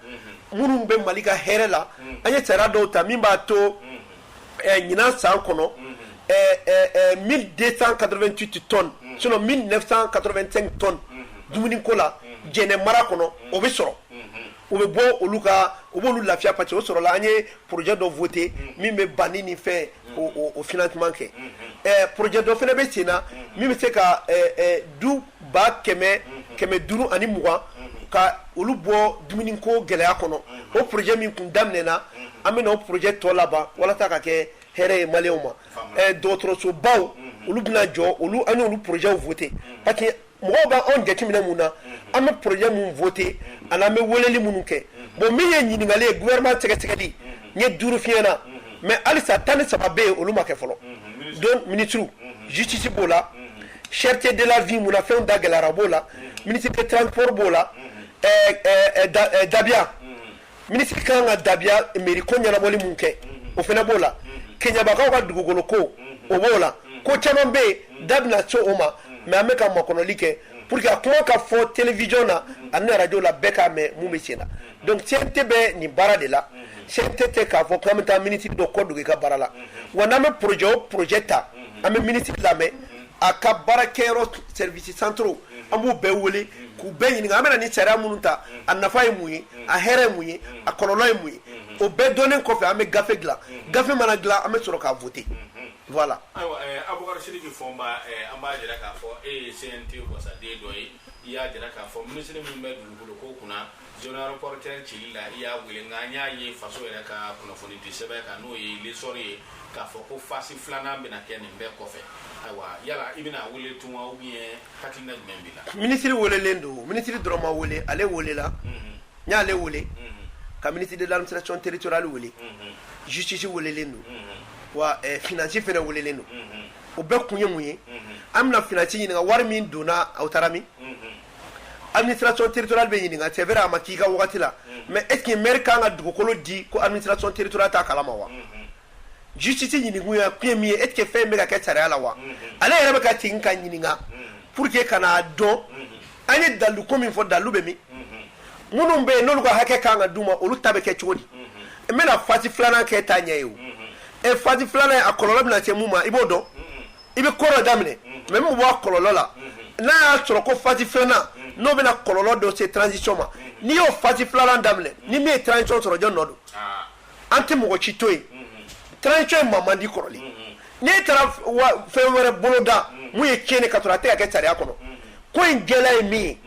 minnu bɛ mali ka hɛrɛ la an ye sariya dɔw ta min b'a to ɲinan san kɔnɔ mi den katoti tɔn mi katɔ tɔn dumuni ko la jɛnɛ mara kɔnɔ o bɛ sɔrɔ u bɛ bɔ olu ka u b'olu lafiya pa o sɔrɔ an ye porojɛ dɔ foote min bɛ ban ni fɛ o f tun kɛ porojɛ dɔ fana bɛ sen na min bɛ se ka du ba kɛmɛ kɛmɛ duuru ani mugan ka olu bɔ dumuni ko gɛlɛya kɔnɔ o projet min tun daminɛna an bɛna o projet tɔ laban walasa ka kɛ hɛrɛ ye maliyɛnw ma dɔgɔtɔrɔsobaw olu bɛna jɔ an y'olu projetw voté parce que mɔgɔw bɛ anw jateminɛ mun na an bɛ projet minnu voté ani an bɛ weleli minnu kɛ bon min ye ɲininkali ye gouvernement sɛgɛsɛgɛli n ye duuru f'i ɲɛna mais halisa tan ni saba bɛ yen olu ma kɛ fɔlɔ donc ministre justice b'o la Cherté de la vie mun na fɛnw da gɛlɛyara b'o la ministre de transport b'o la dabiya ministre ka kan ka dabiya mairie ko ɲɛnabɔli min kɛ o fana b'o la keɲebakaw ka dugukolo ko o b'o la ko caman bɛ yen da bɛna se o ma mais an bɛ ka makɔnɔli kɛ pour que a kuma ka fɔ télévision na ani arajo la bɛɛ k'a mɛn mun bɛ sen na Donc CNT bɛ nin baara de la, unhun, CNT tɛ k'a fɔ k'an bɛ taa ministre dɔ kɔ don i ka baara la, unhun, wa n'an bɛ projet o projet ta, unhun, an bɛ ministre lamɛn, unhun, a ka baara kɛyɔrɔ service centraux an b'u bɛɛ wele k'u bɛɛ ɲininka an bɛna nin sariya minnu ta a nafa ye mun ye a hɛrɛ ye mun ye a kɔlɔlɔ ye mun ye o bɛɛ dɔnnen kɔfɛ an bɛ gafe dilan gafe mana dilan an bɛ sɔrɔ k'a voter voilà. ayiwa eh, Abubakar Sidiki Fɔnba eh, an b'a jira k'a fɔ e ye CNT wasaden dɔ ye i y'a jira k'a fɔ minisiri min bɛ dugukolo ko kunna Zone aéroportuaire cili la i y'a wele nka an y'a ye faso yɛrɛ ka kunnafoni di sɛbɛn kan n'o ye L'Essor ye k'a fɔ ko fasi filanan bɛna kɛ nin bɛɛ kɔfɛ ayiwa yala i bɛna wele tun wa ou bien hakilina jumɛn b'i la minisiri welelen don minisiri dɔrɔn ma wele ale welela n y'ale wele ka ministre de l'administration territoriale wele justice welelen don wa finance fana welelen don o bɛɛ kun ye mun ye an bɛna finance ɲininka wari min donna aw taara min administration territoriale bɛ ɲininka c'est vrai a ma k'i ka waati la mais est-ce que maire kan ka dugukolo di ko administration territoriale t'a kala ma wa justice ɲininkakun min ye est-ce que fɛn bɛ kɛ sariya la wa ale yɛrɛ bɛ ka ten ka ɲininka pour que ka n'a dɔn an ye dalu ko min fɔ dalu bɛ min minnu bɛ yen n'olu ka hakɛ kan ka d'u ma olu ta bɛ kɛ cogo di n bɛna phase filanan kɛ taa ɲɛ ye o e phase filanan a kɔlɔlɔ bɛ se mun ma i b'o dɔn i bɛ ko dɔ daminɛ mais min b'a kɔlɔlɔ la n'a y'a sɔrɔ ko phase filanan n'o bɛna kɔlɔlɔ dɔ se transition ma n'i y'o phase filanan daminɛ ni min ye transition sɔrɔ jɔn nɔ don an tɛ mɔgɔ si to yen transition ye ma mandi kɔrɔlen n'i taara fɛn wɛrɛ boloda min ye tiɲɛn k'a sɔrɔ a tɛ ka kɛ sariya kɔnɔ ko in gɛlɛya ye min ye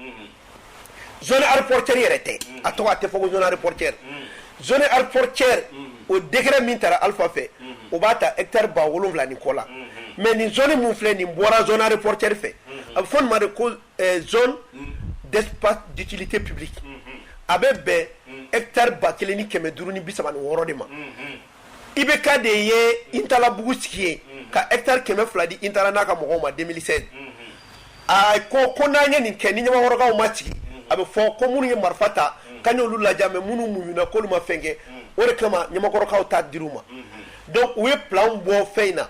zone aéroportière yɛrɛ tɛ mm. a tɔgɔ a tɛ fɔ ko zone aéroportière mm. zone aéroportière mm. o décret min tara Alpha fɛ mm-hmm. o b'a ta hectare ba wolonwula ni kɔ la mm-hmm. mais nin zone min filɛ nin bɔra zone aéroportière fɛ mm-hmm. a bɛ fɔ nin ma de ko eh, zone d'espace d'utilité publique a bɛ bɛn hectare ba kelen ni kɛmɛ duuru ni bi saba ni wɔɔrɔ de ma IBK de ye intalabugu sigi yen ka hectare kɛmɛ fila di intala n'a ka mɔgɔw ma deux mille seize a ko ko n'an ye nin kɛ ni ɲamakɔrɔkaw ma sigi a bɛ fɔ ko minnu ye marifa ta k'an y'olu ladiya mais minnu muɲuna k'olu ma fɛn kɛ o de kama ɲamakɔrɔkaw ta di u ma donc u ye plan bɔ fɛn in na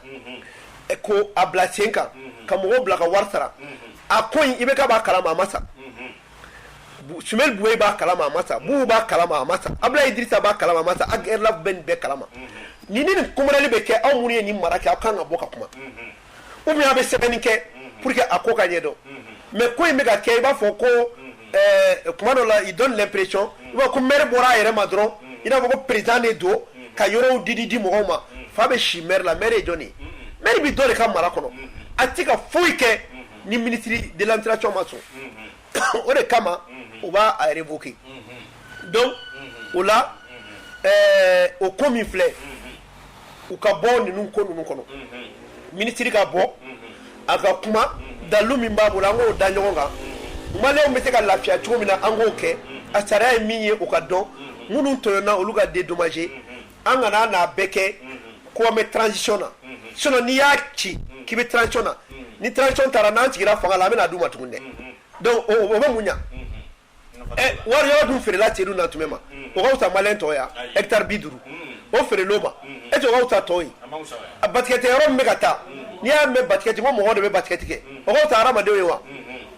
ko a bila sen kan ka mɔgɔw bila ka wari sara a ko in IBK b'a kalama a ma sa Soumeylou Boubèye b'a kalama a ma sa Boubou b'a kalama a ma sa Abdoulaye Idrissa b'a kalama a ma sa Ag Erlaf bɛ nin bɛɛ kalama ni ni koli bɛ kɛ aw minnu ye nin mara kɛ aw kan ka bɔ ka kuma ou bien aw bɛ sɛbɛnni kɛ pour que a ko ka ɲɛdɔn mais ko in bɛ ka kɛ i b'a fɔ ko kuma dɔ la il donne l'impression ko maire bɔra a yɛrɛ ma dɔrɔn i n'a fɔ ko président de don ka yɔrɔw didi di mɔgɔw ma fa bɛ si maire la maire ye jɔn maire bɛ dɔ de ka mara kɔnɔ a tɛ ka foyi kɛ ni ministre de l'administration ma sɔn o de kama u b'a révoquer donc o la o ko min filɛ u ka bɔ ninnu ko ninnu kɔnɔ minisiri ka bɔ a ka kuma dalu min b'a bolo an k'o da ɲɔgɔn kan maliyɛnw bɛ se ka lafiya cogo min na an k'o kɛ a sariya ye min ye o ka dɔn minnu tɔɲɔna olu ka dédommager an kana n'a bɛɛ kɛ ko an bɛ transition na sinon n'i y'a ci k'i bɛ transition na ni transition taara n'an sigira fanga la an bɛna d'u ma tuguni dɛ donc o o bɛ mun ɲa ɛ wari yɔrɔ dun feerela Seydou Nantoumé ma o ka fisa maliyɛn tɔ ye wa hectare bi duuru o feerel'o ma est ce que o ka fisa tɔ ye a basket yɔrɔ min bɛ ka ta n'i y'a mɛn basket ko mɔgɔw de bɛ basket kɛ o ka fisa hadamadenw ye wa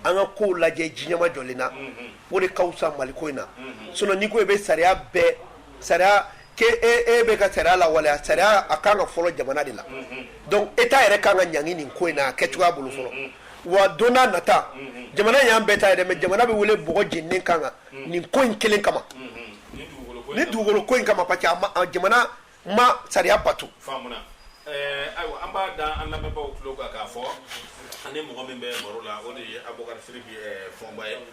an ka kow lajɛ ni ɲɛmajɔlen na o de ka fisa maliko in na sinon n'i ko i bɛ sariya bɛɛ sariya ke e bɛ ka sariya lawaleya sariya a kan ka fɔlɔ jamana de la donc état yɛrɛ kan ka ɲangi nin ko in na a kɛ cogoya bolo fɔlɔ wa don n'a nata jamana y'an bɛɛ ta yɛrɛ mais jamana bɛ wele bɔgɔ jeninen kan kan nin ko in kelen kama ni dugukolo ko in kama parce que a ma- a jamana ma sariya bato faamuna ɛɛ ayiwa an b'a da an lamɛnbaaw tulo kan k'a fɔ an ni mɔgɔ min bɛ baro la o de ye abubakar siriki ɛɛ fɔnba ye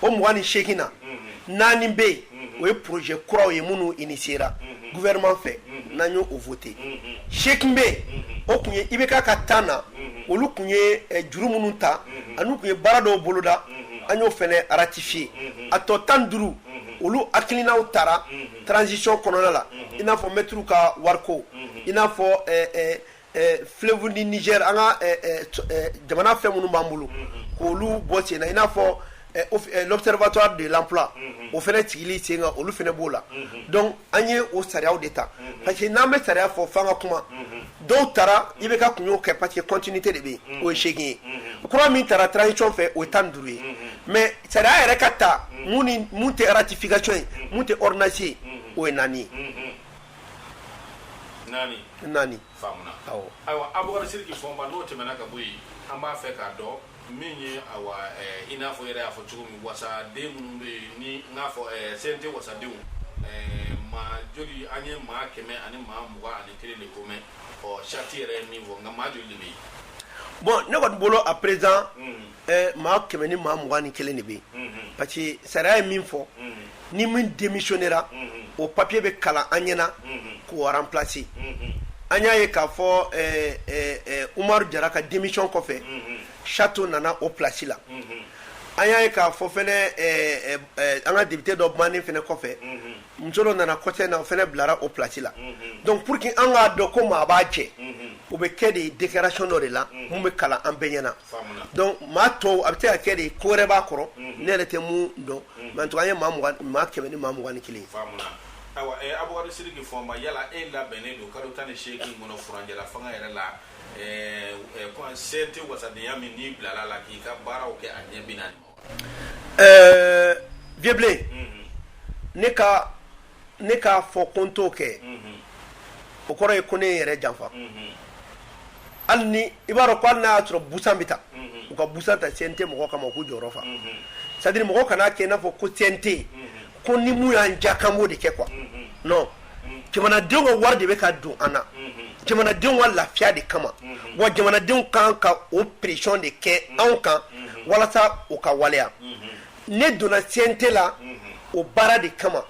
o mugan ni seegin na naani bɛ yen o ye projet kuraw ye minnu initiera gouvernement fɛ n'an y'o voter seegin bɛ yen o kun ye IBK ka temps na olu kun ye eh, juru minnu ta an'u kun ye baara dɔw boloda an y'o fɛnɛ ratifier a tɔ tan ni duuru olu hakilinaw tara transition kɔnɔna la i n'a fɔ mɛtiriw ka wariko i n'a fɔ eh, eh, fleuve du Niger an ka jamana fɛn minnu b'an bolo k'olu bɔ sen na i n'a fɔ l'observatoire de l'emploi o fɛnɛ sigilen sen kan olu fɛnɛ b'o la an ye o sariya de ta parce que n'an bɛ sariya fɔ fanga ka kuma dɔw tara IBK kun y'o kɛ parce que continuité de bɛ o ye seegin ye kura min tara transition fɛ o ye tan duuru ye mais sariya yɛrɛ ka ta min tɛ ratification ye min tɛ ordonnance ye o ye naani ye naani naani faamuna awɔ ayiwa abubakar sidiki fɔnba n'o tɛmɛna ka bɔ yen an b'a fɛ k'a dɔn min ye awa ɛɛ i n'a fɔ i yɛrɛ y'a fɔ cogo min wasaden minnu bɛ yen ni n k'a fɔ ɛɛ CNT wasadenw ɛɛ maa joli an ye maa kɛmɛ ani maa mugan ani kelen de ko mɛn ɔ charte yɛrɛ ye min fɔ nka maa joli de bɛ yen bon ne kɔni bolo à présent hmm. Maa kɛmɛ ni maa mugan ni kelen de bɛ yen parce que sariya ye min fɔ ni min démissionnera o papiye bɛ kalan an ɲɛna k'o remplacer an y'a ye k'a fɔ Umaru Jara ka démission kɔfɛ Chato nana o plasi la an y'a ye k'a fɔ fɛnɛ an ka député dɔ bannen fɛnɛ kɔfɛ muso dɔ nana kɔsa in na o fɛnɛ bilara o plasi la donc pour que an k'a dɔn ko maa b'a jɛ o bɛ kɛ de déclaration dɔ de la min bɛ kalan an bɛɛ ɲɛna Donc maa tɔw a bɛ se ka kɛ de ko wɛrɛ b'a kɔrɔ ne yɛrɛ tɛ mun dɔn mais en tout cas an ye maa mu- maa kɛmɛ ni maa mugan ni kelen ye. Faamuna ayiwa ɛ Abubakari Sidiki Fɔnba yala e labɛnnen don kalo tan ni seegin kɔnɔ furanjɛlafanga yɛrɛ la ɛɛ ɛ CNT wasadenya min n'i bilal'a la k'i ka baaraw kɛ a ɲɛ bi naani Ɛɛ Vieux Blen ne ka ne k'a fɔ ko n t'o kɛ o kɔrɔ ye ko ne n yɛrɛ janfa hali ni i b'a dɔn ko hali n'a y'a sɔrɔ busan bɛ ta u ka busan ta CNT mɔgɔ kama u k'u jɔyɔrɔ fa c'est-à-dire mɔgɔ kan'a kɛ i n'a fɔ ko CNT ko ni mun y'an ja k'an b'o de kɛ quoi non jamanadenw ka wari de bɛ ka don an na jamanadenw ka lafiya de kama wa jamanadenw kan ka o pression de kɛ anw kan walasa o ka waleya ne donna CNT la o baara de kama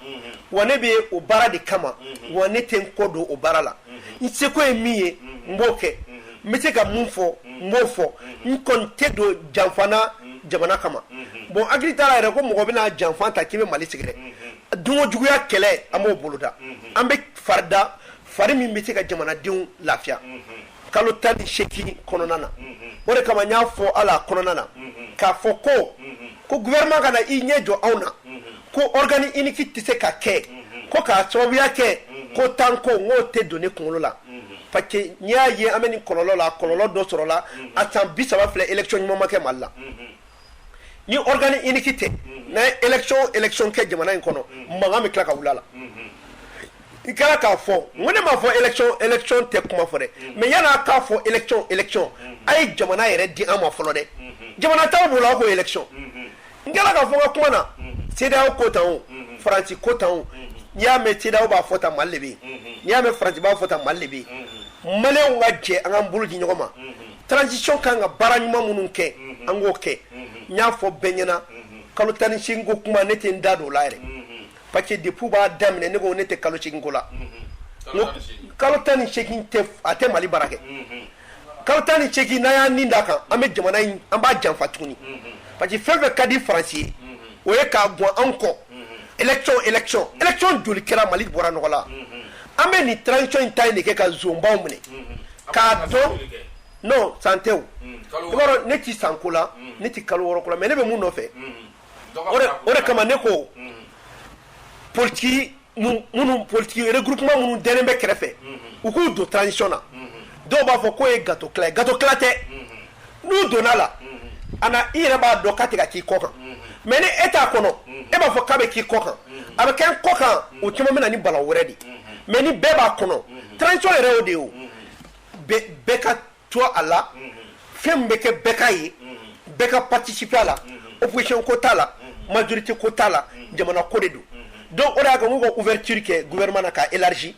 wa ne bɛ o baara de kama wa ne tɛ n kɔ don o baara la n seko ye min ye n b'o kɛ n bɛ se ka mun fɔ n b'o fɔ n kɔni tɛ don janfa na jamana kama bon hakili t'a la yɛrɛ ko mɔgɔ bɛna janfa ta k'i bɛ mali sigi dɛ dunko juguya kɛlɛ an b'o boloda an bɛ farida fari min bɛ se ka jamanadenw lafiya kalo tan ni seegin kɔnɔna na o de kama n y'a fɔ ala kɔnɔna na k'a fɔ ko ko gouvernement kana i ɲɛ jɔ anw na ko organe unique tɛ se ka kɛ ko k'a sababuya kɛ ko tan ko n k'o tɛ don ne kunkolo la parce que n'i y'a ye an bɛ nin kɔlɔlɔ la kɔlɔlɔ dɔ sɔrɔla a san bi saba filɛ élection ɲuman ma kɛ mali la ni organe unique tɛ n'a ye élection kɛ jamana in kɔnɔ mankan bɛ tila ka wuli a la i kɛra k'a fɔ ko ne m'a fɔ élection tɛ kuma fɔ dɛ mm. mais yan'a k'a fɔ élection élection mm. a ye jamana yɛrɛ di an ma fɔlɔ dɛ mm-hmm. jamana t'anw bolo aw ko élection mm-hmm. n kɛra k'a fɔ n ka kuma na mm-hmm. CEDEAO ko tan o faransi ko tan o n'i y'a mɛn CEDEAO b'a fɔ tan mali de bɛ yen n'i y'a mɛn faransi b'a fɔ tan mali de bɛ yen maliyɛnw ka jɛ an k'an bolo di ɲɔgɔn ma transition ka kan ka baara ɲuman minnu kɛ an k'o kɛ n y'a fɔ bɛɛ ɲɛna kalo tan ni seegin ko kuma ne tɛ n da don o la yɛrɛ parce que depuis b'a daminɛ ne ko ne tɛ kalo ko la kalo tan ni seegin a tɛ mali baara kɛ kalo tan ni seegin n'a y'a nin da kan an bɛ jamana in an b'a janfa tuguni parce que fɛn fɛn ka di faransi ye o ye k'a bɔ anw kɔ élection joli kɛra mali bɔra nɔgɔ la an bɛ nin transition in ta de kɛ ka zonbaw minɛ k'a dɔn non san tɛ ne tɛ san ko la ne tɛ kalo wɔɔrɔ ko la mais ne bɛ mun nɔfɛ o de kama ne ko politigi regroupement minnu dɛnnen bɛ kɛrɛfɛ u k'u don transition na dɔw b'a fɔ k'o ye gâteau tila ye gâteau tila tɛ n'u donna a la a na i yɛrɛ b'a dɔn k'a tɛ ka k'i kɔ kan mais ni e t'a kɔnɔ e b'a fɔ k'a bɛ k'i kɔ kan a bɛ kɛ n kɔ kan o caman bɛ na ni bala wɛrɛ de mais ni bɛɛ b'a kɔnɔ transition yɛrɛ y'o de ye bɛɛ ka to a la fɛn min bɛ kɛ bɛɛ ka ye bɛɛ ka participer a la opposition ko t'a la majorité ko t'a la jamana ko de don donc o de y'a kɛ n k'u ka ouverture kɛ gouvernement na k'a élargi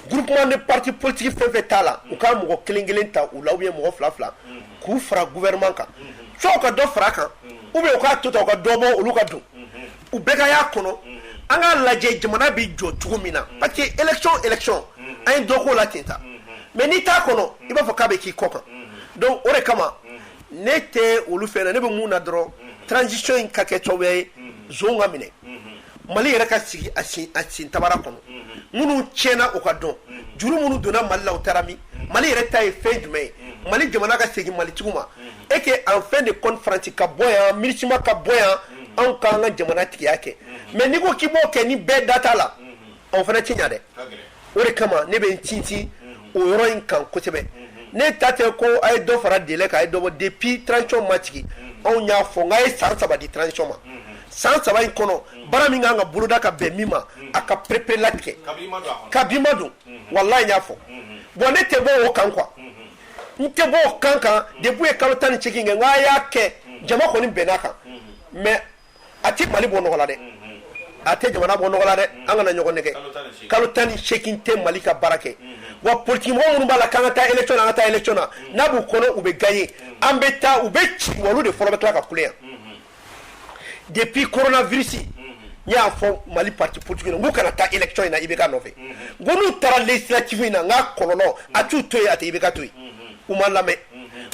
groupement de parti politique fɛn fɛn t'a la u ka mɔgɔ kelen kelen ta u la ou bien mɔgɔ fila fila k'u fara gouvernement kan soit u ka dɔ fara kan ou bien u k'a to tan u ka dɔ bɔ olu ka don u bɛɛ ka y'a kɔnɔ an k'a lajɛ jamana bɛ jɔ cogo min na parce que élection élection an ye dɔ k'o la ten ta mais n'i t'a kɔnɔ i b'a fɔ k'a bɛ k'i kɔ kan donc o de kama ne tɛ olu fɛn na ne bɛ mun na dɔrɔn transition in ka kɛ cogo ye zon ka minɛ mali yɛrɛ ka sigi a sin tabara kɔnɔ minnu tiɲɛna u ka dɔn juru minnu donna mali la u taara min mali yɛrɛ ta ye fɛn jumɛn ye mali jamana ka segin malitigiw ma et que en fin de compte faransi ka bɔ yan MINUSMA ka bɔ yan anw k'an ka jamana tigiya kɛ mais n'i ko k'i b'o kɛ ni bɛɛ da t'a la anw fana tɛ ɲa dɛ o de kama ne bɛ n tintin o yɔrɔ in kan kosɛbɛ ne ta tɛ ko a ye dɔ fara délai kan a ye dɔ bɔ depuis transition ma sigi anw y'a fɔ n k'a ye san saba di transition ma san saba in kɔnɔ baara min kan ka boloda ka bɛn min ma a ka pereperelatigɛ kabini ma don walayi n y'a fɔ bon ne tɛ bɔ o kan quoi n tɛ bɔ o kan kan début ye kalo tan ni segin kɛ n k'a y'a kɛ jama kɔni bɛnn'a kan mais a tɛ mali bɔ nɔgɔ la dɛ a tɛ jamana bɔ nɔgɔ la dɛ an kana ɲɔgɔn nɛgɛ kalo tan ni segin tɛ mali ka baara kɛ wa politikimɔgɔ minnu b'a la k'an ka taa élection na an ka taa élection na n'a b'u kɔnɔ u bɛ gagner an bɛ taa u bɛ ci wa olu de fɔlɔ bɛ tila ka kule yan depuis coronavirus n y'a fɔ mali parti politique na n k'u kana taa élection in na IBK nɔfɛ n ko n'u taara législative in na n k'a kɔlɔlɔ a t'u to yen a tɛ IBK to yen u ma lamɛn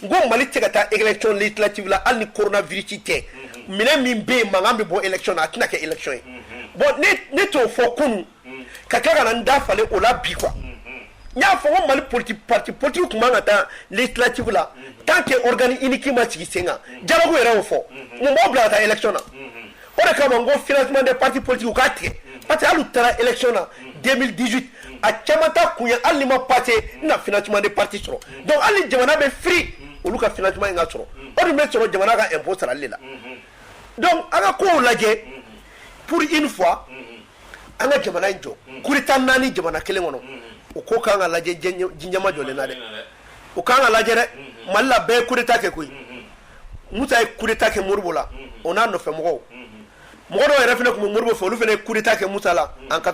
n ko mali tɛ se ka taa élection législative la hali ni coronavirus tɛ minɛn min bɛ yen mankan bɛ bɔ élection na a tɛna kɛ élection ye bon ne ne t'o fɔ kunun ka tila ka na n da falen o la bi quoi n y'a fɔ ko mali politi parti politiki tun man ka taa législative la tant que organe unique ma sigi sen kan dialogue yɛrɛ y'o fɔ mun b'aw bila ka taa élection na o de kama n ko financement des partis politiques u k'a tigɛ parce que hali u taara élection na 2018 a caman ta kun ye hali ni ma passer n na financement des partis sɔrɔ donc hali ni jamana bɛ firi olu ka financement in ka sɔrɔ o dun bɛ sɔrɔ jamana ka impôt sarali de la donc an ka kow lajɛ pour une fois an ka jamana in jɔ kuta naani jamana kelen kɔnɔ u ko k'an ka lajɛ jinɛma jɔlen na dɛ u k'an ka lajɛ dɛ mali la bɛɛ ye kuta kɛ koyi mu ye kuta kɛ moribo la o n'a nɔfɛ mɔgɔw mɔgɔ dɔw yɛrɛ fana tun bɛ moribo fɛ olu fana kuta kɛ muta la an ka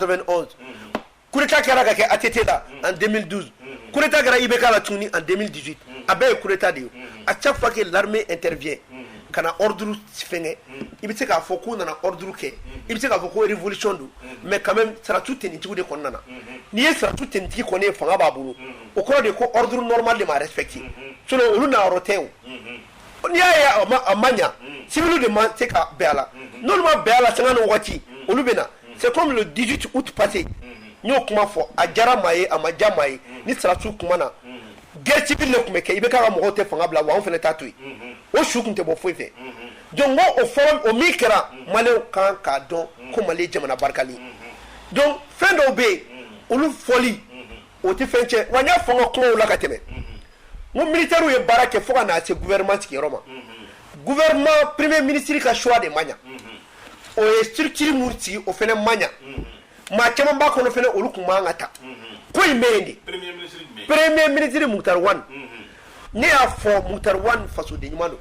kuta kɛra ka kɛ a tɛ te la an denmisɛn dusu kuta kɛra i bɛ k'a la tuguni an denmisɛn dusu a bɛɛ ye kuta de ye a cɛ fa kɛ la n tɛ ka na ordre fɛngɛ i bɛ se k'a fɔ k'u nana ordre kɛ i bɛ se k'a fɔ ko révolution don mais quand même sɔrɔdasi tenitigiw de kɔni nana n'i ye sɔrɔdasi tenitigi kɔni ye fanga b'a bolo o kɔrɔ de ye ko ordre normal de ma respecter sinon olu na yɔrɔ tɛ o n'i y'a ye a ma a ma ɲa civil de ma se ka bɛn a la n'olu ma bɛn a la sanga ni wagati olu bɛ na c'est comme le 18 août passé n y'o kuma fɔ a diyara maa ye a ma diya maa ye ni sɔrɔdasiw kumana guerre civile de tun bɛ kɛ IBK ka mɔgɔw tɛ fanga bila wa anw fana t'a to yen o su tun tɛ bɔ foyi fɛ donc o fɔlɔ o min kɛra maliyɛnw kan k'a dɔn ko Mali ye jamana barikalen donc fɛn dɔw bɛ yen olu fɔli o tɛ fɛn tiɲɛ wa n y'a fɔ n ka kumaw la ka tɛmɛ n ko militaires ye baara kɛ fo ka na se gouvernement sigiyɔrɔ ma gouvernement premier ministre ka choix de ma ɲa o ye structure min sigi o fana ma ɲa maa caman b'a kɔnɔ fana olu tun man kan ka ta ko in bɛ yen de premier ministre Moctar Ouane ne y'a fɔ Moctar Ouane fasoden ɲuman don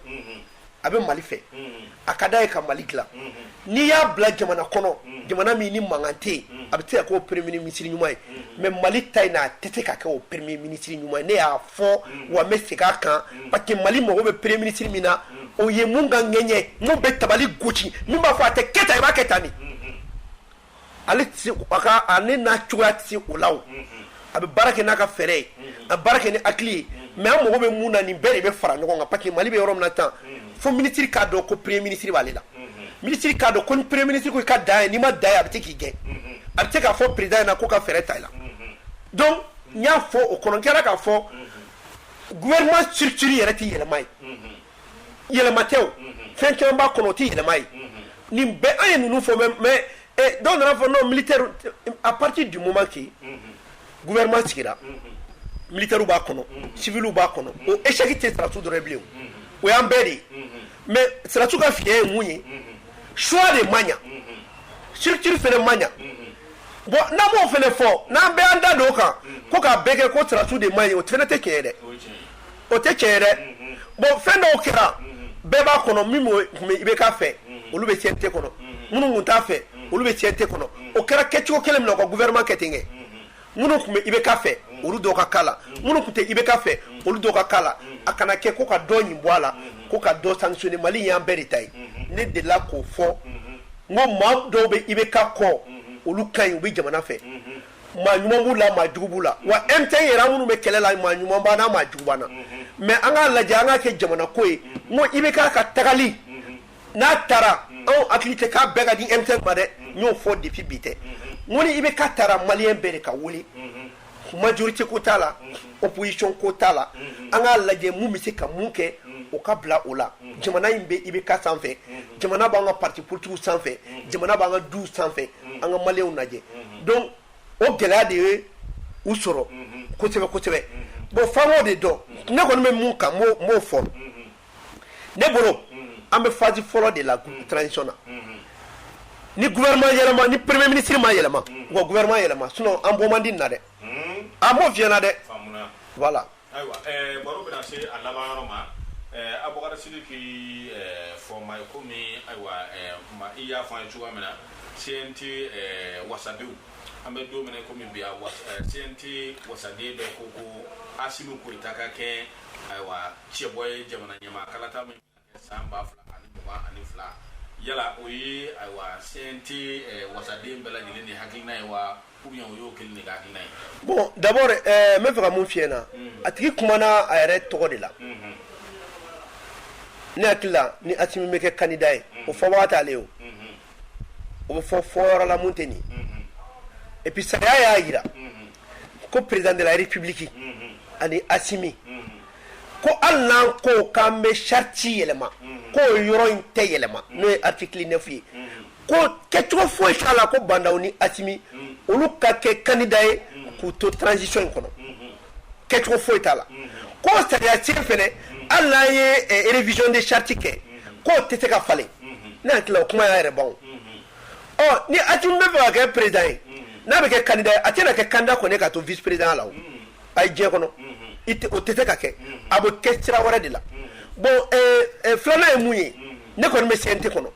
a bɛ Mali fɛ a ka d'a ye ka Mali dilan n'i y'a bila jamana kɔnɔ jamana min ni mankan tɛ yen a bɛ se ka kɛ o premier ministre ɲuman ye mais Mali ta in na a tɛ se ka kɛ o premier ministre ɲuman ye ne y'a fɔ wa n bɛ segin a kan parce que Mali mago bɛ premier ministre min na o ye mun ka ŋɛɲɛ mun bɛ tabali gosi min b'a fɔ a tɛ kɛ tan i b'a kɛ tan de. ale n'a cogoya tɛ se o la a bɛ baara kɛ n'a ka fɛɛrɛ ye a baara kɛ ni hakili ye mais an mago bɛ mun na nin bɛɛ de bɛ fara ɲɔgɔn kan parce que Mali bɛ yɔrɔ min na tan fo ministre k'a dɔn ko premier ministre b'ale la ministre k'a dɔn ko ni premier ministre ko i ka dan yen n'i ma dan yen a bɛ se k'i gɛn a bɛ se k'a fɔ président ɲɛna ko ka fɛɛrɛ ta i la donc n y'a fɔ o kɔnɔ n kɛra k'a fɔ gouvernement structure yɛrɛ tɛ yɛlɛma ye yɛlɛma tɛ o fɛn caman b'a kɔnɔ o tɛ yɛlɛma ye nin bɛɛ an ye ninnu fɔ mais mais eh, dɔw nana fɔ non militaire à partir du moment que gouvernement sigira militaires b'a kɔnɔ civiliw b'a kɔnɔ o échec tɛ sɔrɔdasiw dɔrɔn ye bilen o y'an bɛɛ de ye mais sɔrɔdasiw ka fiɲɛ ye mun ye choix de ma ɲa structure fana ma ɲa bon n'an m'o fana fɔ n'an bɛɛ an da don o kan ko k'a bɛɛ kɛ ko sɔrɔdasiw de man ɲi o fana tɛ tiɲɛ ye dɛ. o tɛ tiɲɛ ye dɛ bon fɛn dɔw kɛra bɛɛ b'a kɔnɔ min tun bɛ IBK fɛ olu bɛ CNT kɔnɔ minnu tun t'a fɛ olu bɛ CNT kɔnɔ o kɛra kɛcogo kelen min na ka gouvernement kɛ ten kɛ minnu tun bɛ IBK fɛ olu dɔw ka k'a la minnu tun tɛ IBK fɛ olu dɔw ka k'a la a kana kɛ ko ka dɔ ɲin bɔ a la ko ka dɔ sanctionner Mali y'an bɛɛ de ta ye ne delila k'o fɔ n ko maa dɔw bɛ IBK kɔ olu ka ɲi u bɛ jamana fɛ maa ɲuman b'u la maa jugu b'u la wa M5 yɛrɛ an minnu bɛ kɛlɛ la maa ɲuman b'an na maa jugu b'an na mais an k'a lajɛ an k'a kɛ jamana ko ye n ko IBK ka tagali n'a taara anw hakili tɛ k'a bɛɛ ka di M5 ma dɛ n y'o fɔ depuis bi tɛ n ko ni IBK taara maliyɛn bɛɛ de ka wuli majorité ko t'a la opposition ko t'a la an k'a lajɛ mun bɛ se ka mun kɛ o ka bila o la jamana in bɛ IBK sanfɛ jamana b'an ka parti politigiw sanfɛ jamana b'an ka duw sanfɛ an ka maliyɛnw lajɛ donc o gɛlɛya de ye u sɔrɔ kosɛbɛ kosɛbɛ bon f'an k'o de dɔn ne kɔni bɛ mun kan n b'o fɔ ne bolo an bɛ phase fɔlɔ de la transition na ni gouvernement yɛlɛma ni premier ministre ma yɛlɛma u ka gouvernement yɛlɛma sinon an bɔ man di nin na dɛ an b'o f'i ɲɛna dɛ voilà Ayiwa baro bɛna se a laban yɔrɔ ma Abubakar Sidiki Fɔnba i komi ayiwa i y'a fɔ an ye cogoya min na CNT wasadenw an bɛ don min na komi bi CNT wasaden dɔ ko ko Asimi Goyita ka kɛ ayiwa cɛbɔ ye jamana ɲɛmaa kalata min san ba fila ani mugan ani fila yala o ye ayiwa CNT eh, wasaden bɛɛ lajɛlen de hakilina ye wa ou bien o y'o kelen de ka hakilina ye bon d'abord eh, n bɛ fɛ ka mun f'i ɲɛna mm. a tigi kumana a yɛrɛ tɔgɔ de la mm-hmm. ne hakili la ni asimi bɛ kɛ kandida ye o mm-hmm. fɔbaga t'ale ye o mm-hmm. o bɛ fɔ fɔyɔrɔ la mun tɛ nin et puis sariya y'a jira ko président de la république ani asimi ko hali n'an ko k'an bɛ charte yɛlɛma k'o yɔrɔ in tɛ yɛlɛma n'o ye article neuf ye ko kɛcogo foyi t'a la ko ba ndaw ni asimi olu ka kɛ kandida ye k'u to transition in kɔnɔ kɛcogo foyi t'a la ko sariya sen fɛnɛ hali n'an ye eh, révision de charte kɛ k'o tɛ se ka falen ne hakili la o kuma y'a yɛrɛ ban o ɔ ni asimi bɛ fɛ ka kɛ président ye n'a bɛ kɛ kandida ye a tɛna kɛ kandida kɔni ye ka to vice président la o a ye diɲɛ kɔnɔ o tɛ se ka kɛ a bɛ kɛ sira wɛrɛ de la bon filanan ye mun ye ne kɔni bɛ CNT kɔnɔ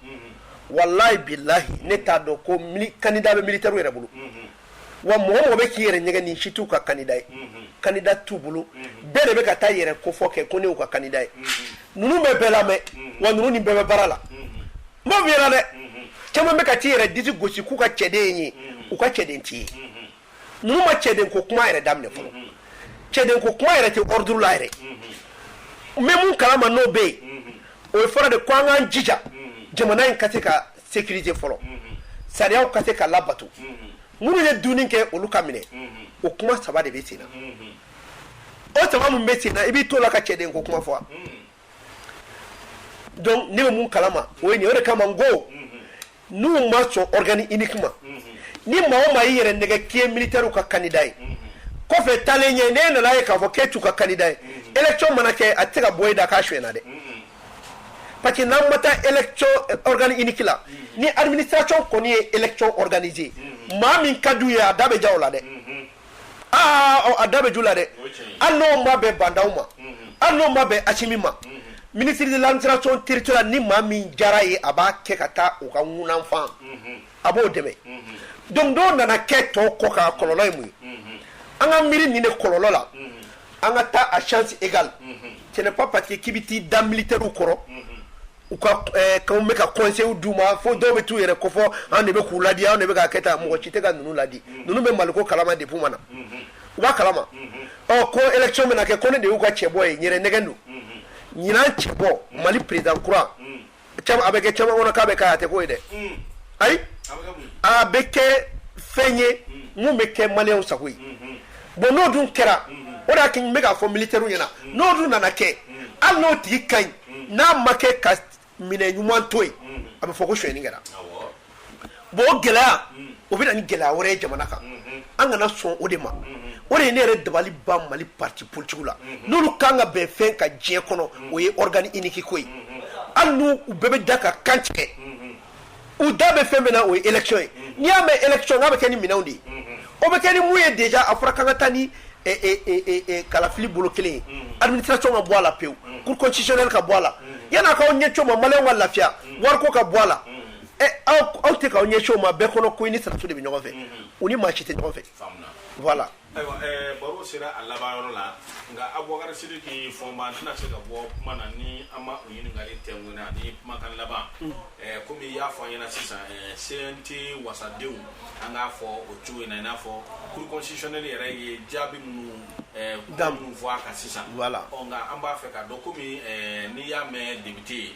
walayi bilayi ne t'a dɔn ko kandida bɛ militairew yɛrɛ bolo wa mɔgɔ mɔgɔ bɛ k'i yɛrɛ nɛgɛn nin si t'u ka kandida ye kandida t'u bolo bɛɛ de bɛ ka t'a yɛrɛ kofɔ kɛ ko ne y'u ka kandida ye ninnu bɛ bɛɛ lamɛn wa ninnu ni bɛɛ bɛ baara la n b'a f'i ɲɛna dɛ caman bɛ ka t'i yɛrɛ disi gosi k'u ka cɛden ye u ka cɛden t'i ye ninnu ma cɛden ko kuma yɛrɛ daminɛ fɔlɔ cɛden ko kuma yɛrɛ tɛ ordre la yɛrɛ n bɛ mun kalama n'o bɛ yen o ye fɔlɔ de ko an k'an jija jamana in ka se ka sécuriser fɔlɔ sariyaw ka se ka labato minnu ye dunni kɛ olu ka minɛ o kuma saba de bɛ sen na o saba min bɛ sen na i b'i t'o la ka cɛden ko kuma fɔ wa donc ne bɛ mun kalama o ye nin o de kama n ko n'u ma sɔn organe unique ma ni maa o maa y'i yɛrɛ nɛgɛn k'i ye militairew ka candidat ye kɔfɛ taalen ɲɛ n'e nana ye k'a fɔ k'e t'u ka candidat ye élection mana kɛ a tɛ se ka bɔ e da k'a suɲɛna dɛ parce que n'an ma taa élection euh, organe unique la ni administration kɔni ye élection organiser maa min ka d'u ye a da bɛ ja o la dɛ aa a da bɛ j'o la dɛ hali n'o ma bɛn ba ndaw ma hali n'o ma bɛn asimi ma ministre de l'administration territoriale ni maa min jar'a ye a b'a kɛ ka taa o ka ŋunanfan a b'o dɛmɛ donc n'o nana kɛ tɔw kɔ ka kɔlɔlɔ ye mun ye an ka miiri nin de kɔlɔlɔ la an ka taa à chance égale ce n'est pas parce que k'i bɛ t'i da militairew kɔrɔ u ka kan bɛ ka conseil d'u ma fo dɔw bɛ taa u yɛrɛ ko fɔ an de bɛ k'u ladi anw de bɛ k'a kɛ tan mɔgɔ si tɛ ka ninnu ladi ninnu bɛ mali ko kalama depuis ma na u b'a kalama ɔ ko élection bɛna kɛ ko ne de y'u ka cɛbɔ ye ɲ nɛgɛn don ɲinan cɛbɔ mali président kura a bɛ kɛ caman kɔnɔ k'a bɛ kɛ a tɛ k'o ye dɛ ayi a bɛ kɛ fɛn ye min bɛ kɛ maliyɛnw sago ye bon n'o dun kɛra o de y'a kɛ n bɛ k'a fɔ militaire ɲɛna n'o dun nana kɛ hali n'o tigi ka ɲi n'a ma kɛ ka minɛ ɲuman to yen a bɛ fɔ ko suɲɛni kɛra bon o gɛlɛya o bɛ na ni gɛlɛya wɛrɛ ye jamana kan an kana sɔn o de ma o de ye ne yɛrɛ dabali ban mali parti politique la n'olu kan ka bɛn fɛn kan diɲɛ kɔnɔ o ye organe unique ko ye hali n'u bɛɛ bɛ da ka kan tigɛ u da bɛ fɛn min na o ye élection ye mm-hmm. n'i y'a mɛn election k'a bɛ kɛ ni minɛnw de ye mm-hmm. o bɛ kɛ ni mun ye déjà a fɔra k'an ka taa ni eh, eh, eh, kalafili bolo kelen ye mm-hmm. administration ka bɔ a la pewu cour constitutionnelle ka bɔ a la yan'a k'aw ɲɛci o ma maliyɛnw ka lafiya wariko ka bɔ a la aw tɛ k'aw ɲɛci o ma bɛɛ kɔnɔ ko i ni sɔrɔdasiw de bɛ ɲɔgɔn fɛ u ni maa si tɛ ɲɔgɔn fɛ voilà ayiwa eh, baro sera a laban yɔrɔ la nka abubakari sidiki fɔnba an tɛna se ka bɔ kuma na ni an ma o ɲininkali tɛnkunna ani kumakan laban mm. eh, komi i y'a fɔ an ɲɛna sisan eh, cnt wasadenw an k'a fɔ o cogo in na i n'a fɔ cour constitutionnelle yɛrɛ ye jaabi minnu da minnu fɔ a kan sisan nka an b'a fɛ k'a dɔn komi n'i y'a mɛn député ye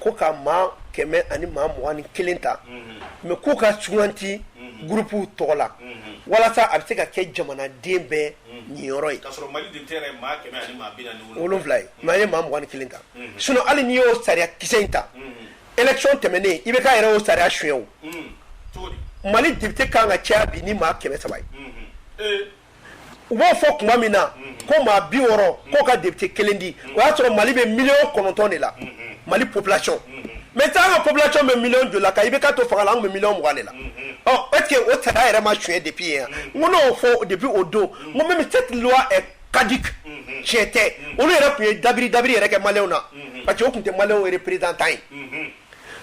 ko ka maa kɛmɛ ani maa mugan ni kelen ta mais k'u ka suganti groupew tɔgɔ la walasa a bɛ se ka kɛ jamanaden bɛɛ niyɔrɔ ye wolonwula maa ye maa mugan ni kelen ta sinon hali n'i y'o sariya kisɛ in ta élection tɛmɛnen ibk yɛrɛ o sariya suɲɛ mali député kan ka caya bi ni maa kɛmɛ saba ye u b'o fɔ tuma min na ko maa bi wɔɔrɔ k'o ka député kelen di o y'a sɔrɔ mali bɛ miliyɔn kɔnɔntɔn de la mali population maintenant ka population bɛ miliyɔn joli la ka ibk to fanga la an bɛ miliyɔn mugan de la ɔ est-ce que o sariya yɛrɛ ma suɲɛ depuis yen n ko n'o fɔ depuis o don n ko même cette loi est caduque tiɲɛ tɛ olu yɛrɛ tun ye dabiri dabiri yɛrɛ kɛ maliyɛnw na parce que o tun tɛ maliyɛnw représentant ye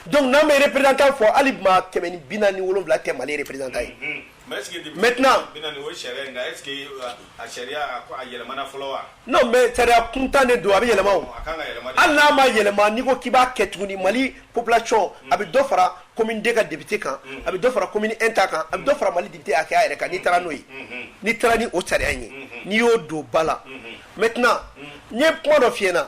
donc n'an bɛ représentant fɔ hali maa kɛmɛ ni bi naani ni wolonwula tɛ mali représentant ye kuntan de don a bɛ yɛlɛma hali n'a ma yɛlɛma n'i ko k'i b'a kɛ tuguni mali population a bɛ dɔ fara commune deux ka député kan a bɛ dɔ fara commune un ta kan a bɛ dɔ fara mali député hakɛya yɛrɛ kan n'i taara n'o ye n'i taara ni o sariya ye n'i y'o don ba la maintenant n ye kuma dɔ f'i ɲɛ na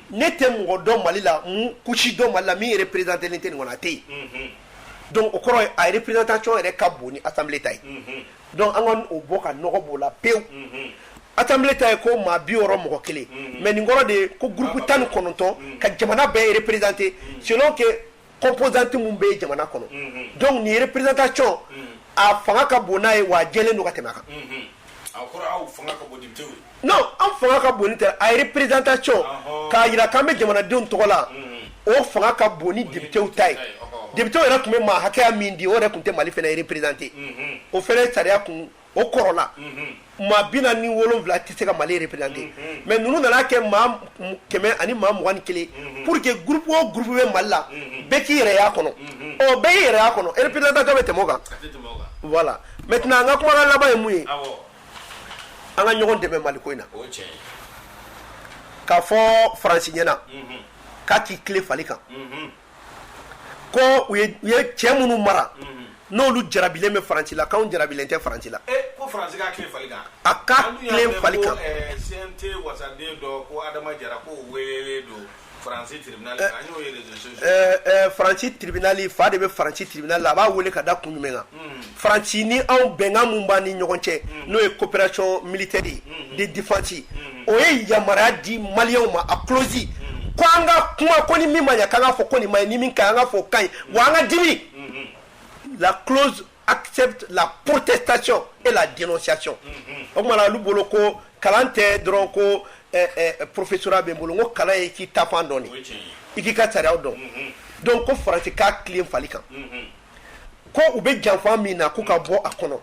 ne tɛ mɔgɔ dɔn mali la kusi dɔn mali la min yɛrɛ perezd tɛ nin kɔnɔ tɛ yen don o kɔrɔ a yɛrɛ pereztac yɛrɛ ka bon ni a ta ye dɔnku an ka o bɔ ka nɔgɔ b'o la pewu a ta ta ye ko maa bi yɔrɔ mɔgɔ kelen mɛ nin kɔrɔ de ye ko gku tan ni kɔnɔntɔn ka jamana bɛɛ yɛrɛ perezte si kɛ composante minnu bɛ jamana kɔnɔ donc nin représentation a fanga ka bon n'a ye wa a jɛlen don ka tɛmɛ a kan non an fanga ka bon tɛ a ye représentation k'a jira k'an bɛ jamanadenw tɔgɔ la o fanga ka bon ni députéw ta ye député yɛrɛ tun bɛ maa hakɛya min di o yɛrɛ tun tɛ mali fana représenté o fana ye sariya kun o kɔrɔla maa bi naani ni wolonwula tɛ se ka mali représenté mais ninnu nana a kɛ maa kɛmɛ ani maa mugan ni kelen pour que groupe o groupe bɛ mali la bɛɛ k'i yɛrɛ y'a kɔnɔ ɔ bɛɛ y'i yɛrɛ y'a kɔnɔ représentation bɛ tɛmɛ o kan voilà maintenant an ka kumakan laban ye mun ye an ka ɲɔgɔn dɛmɛ mali ko in na k'a fɔ faransi ɲɛna k'a k'i tilen fali kan ko u ye cɛ minnu mara n'olu jarabilen bɛ faransi la k'anw jarabilen tɛ faransi la eh, ko faransi k'a tilen fali kan a k'a tilen fali kan eh, CNT wasaden dɔ ko Adama Jara ko welelen don faransi tribunal kan an y'o ye réseaux sociaux eh, faransi tribunal fa de bɛ faransi tribunal la a b'a wele ka da kun jumɛn kan hmm. faransi ni anw bɛnkan min b'an ni ɲɔgɔn cɛ mm. n'o ye coopération militaire ye mm-hmm. de défense mm-hmm. o ye yamaruya di maliyɛnw ma a clause mm-hmm. ko an ka kuma ko ni min ma ɲa k'an ka fɔ ko nin ma ɲi ni min ka ɲi an ka fɔ o ka ɲi wa an ka dimi la clause accepte la protestation et la dénonciation o tuma na olu bolo ko kalan tɛ dɔrɔn ko eh, eh, professorat bɛ n bolo n ko kalan ye k'i ta fan dɔn de i k'i ka sariyaw dɔn donc ko faransi k'a tilen fali kan ko u bɛ janfa min na k'u ka bɔ a kɔnɔ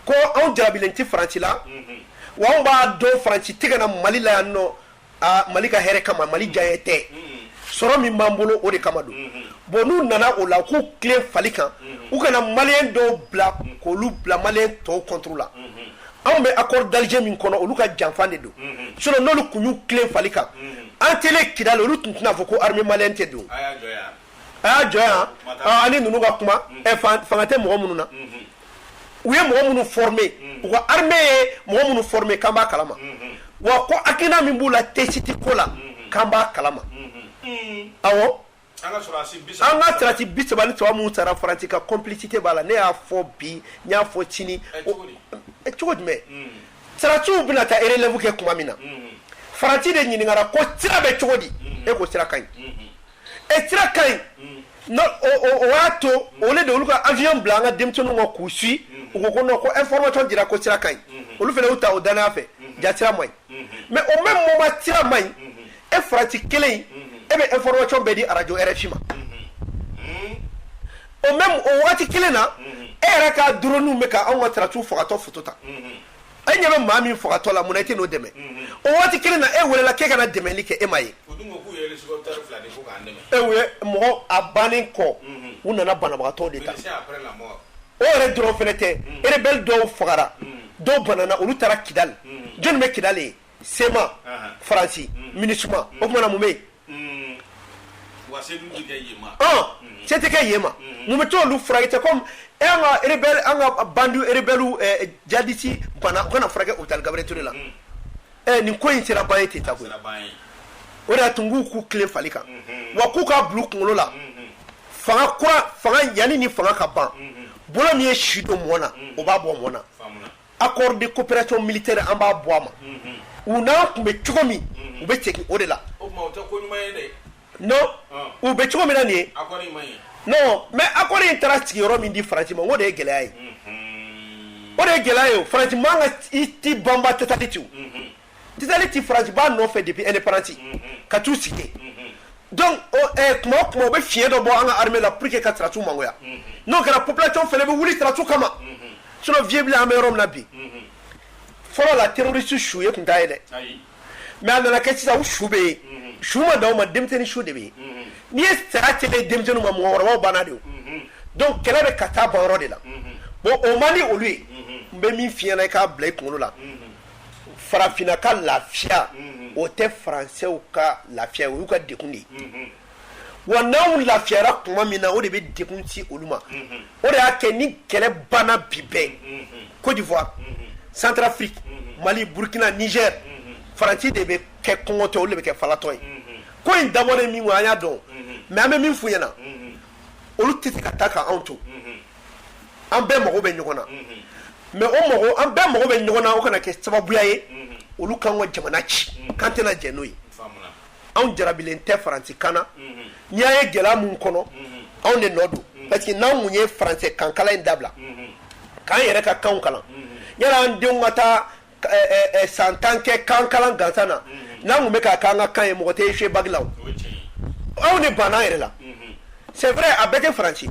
ko anw jarabilen tɛ faransi la wa anw b'a dɔn faransi tɛ ka na mali la yan nɔ mali ka hɛrɛ kama mali diyanye tɛ sɔrɔ min b'an bolo o de kama don bon n'u nana o la k'u tilen fali kan u kana maliyɛn dɔw bila k'olu bila maliyɛn tɔw contre la anw bɛ accord d'Alger min kɔnɔ olu ka janfa de don sinon n'olu tun y'u tilen fali kan entrée kidali olu tun tɛna a fɔ ko armée maliyɛn tɛ don a y'a jɔ yan ani ninnu ka kuma fanga tɛ mɔgɔ minnu na u ye mɔgɔ minnu formé u ka armée ye mɔgɔ minnu formé k'an b'a kalama wa ko hakilina min b'u la Tessit ko la k'an b'a kalama awɔ an ka sarasi bi saba ni saba minnu sara faransi ka complicité b'a la ne y'a fɔ bi n y'a fɔ sini cogo jumɛn sarasiw bɛna taa relève kɛ tuma min na faransi de ɲininkara ko sira bɛ cogo di e ko sira ka ɲi e sira ka ɲi mm. o y'a to mm. olu de olu ka avion bila an ka denmisɛnninw kɔ k'u suivi mm. u ko ko non ko information dira ko sira ka ɲi mm-hmm. olu fana y'u ta o dannaya fɛ mm-hmm. jaa sira man ɲi mm-hmm. mais au même moment sira man ɲi e faransi kelen in e bɛ information bɛɛ di arajo rfi ma o même o waati kelen na e yɛrɛ ka drone bɛ ka anw ka sɔrɔdasiw fagatɔ foto ta e ɲɛ bɛ maa min fagatɔ la munna i tɛ n'o dɛmɛ o waati kelen na e welela k'e ka na dɛmɛli kɛ e ma ye e mɔgɔ a bannen kɔ u nana banabagatɔ de ta o yɛrɛ dɔrɔn fana tɛ rebɛl dɔw fagara dɔw banana olu taara kidali jɔnni bɛ kidali yen CMA faransi MINUSMA o tumana mun bɛ yen mm. mm. se tɛ kɛ yen ma mm. mun b'a to olu furakɛ tɛ komi e an ka rebɛl an ka bandi rebɛliw eh, jihadisi bana u ka na furakɛ hopital gabiriyɛli ture la eh, nin ko in sera ban ye ten ta koyi o de y'a to n k'u k'u tilen fali kan mm-hmm. wa k'u k'a bila u kunkolo la mm-hmm. fanga kura fanga yanni ni fanga ka ban mm-hmm. bolo min ye si don mɔɔ na o b'a bɔ mɔɔ na A kɔrɔ de ko pɛrec mili tɛ an b'a bɔ a ma u n'a tun bɛ cogo min u bɛ cɛ o de la u bɛ cogo min na nin ye mɛ a ko in taara sigi yɔrɔ min di farati ma o de ye gɛlɛya ye o de ye gɛlɛya ye o farati ka i tɛ banba tɛ taa ci Tesaliti faransi b'a nɔfɛ depuis indépendance ka t'u sigi tuma tuma u bɛ fiɲɛ dɔ bɔ an ka armée la pour que ka sɔrɔdasiw mangoya n'o kɛra population fana bɛ wuli sɔrɔdasiw kama s fiye bila an bɛ yɔrɔ min na bi fɔlɔ la terroriste su ye tun da ye dɛ mais a nana kɛ sisan u su bɛ yen su ma di aw ma denmisɛnnin su de bɛ yen n'i ye stratégie di denmisɛnnin ma mɔgɔkɔrɔba banna de dɔnku kɛlɛ bɛ ka taa baw de la bon o man di olu ye n bɛ min f'i ɲɛna i k'a bila i kunkolo la farafinna ka lafiya o tɛ faransɛw ka lafiya o y'u ka degun de ye wa n'anw lafiyara tuma min na o de bɛ degun se olu ma o de y'a kɛ ni kɛlɛ banna bi bɛɛ Côte d'Ivoire Centrafrique Mali Burkina Niger Faransi de bɛ kɛ kɔngɔtɔ olu de bɛ kɛ falatɔ ye ko in dabɔlen min kɔ an y'a dɔn mais an bɛ min f'u ɲɛna olu tɛ se ka taa ka anw to. an bɛɛ mago bɛ ɲɔgɔn na mais o mago an bɛɛ mago bɛ ɲɔgɔn na o kana kɛ sababuya ye olu k'an ka jamana ci k'an tɛna jɛn n'o ye anw jarabilen tɛ faransi kan na n'i y'a ye gɛlɛya minnu kɔnɔ anw de nɔ don parce que n'an tun ye faransɛ kan kalan in dabila k'an yɛrɛ ka kan kalan yala an denw ka taa san tan kɛ kan kalan gansan na n'an tun bɛ k' kan ka kan ye mɔgɔ tɛ fi bala aw ni ban yɛrɛ la c'est vrai avec faransi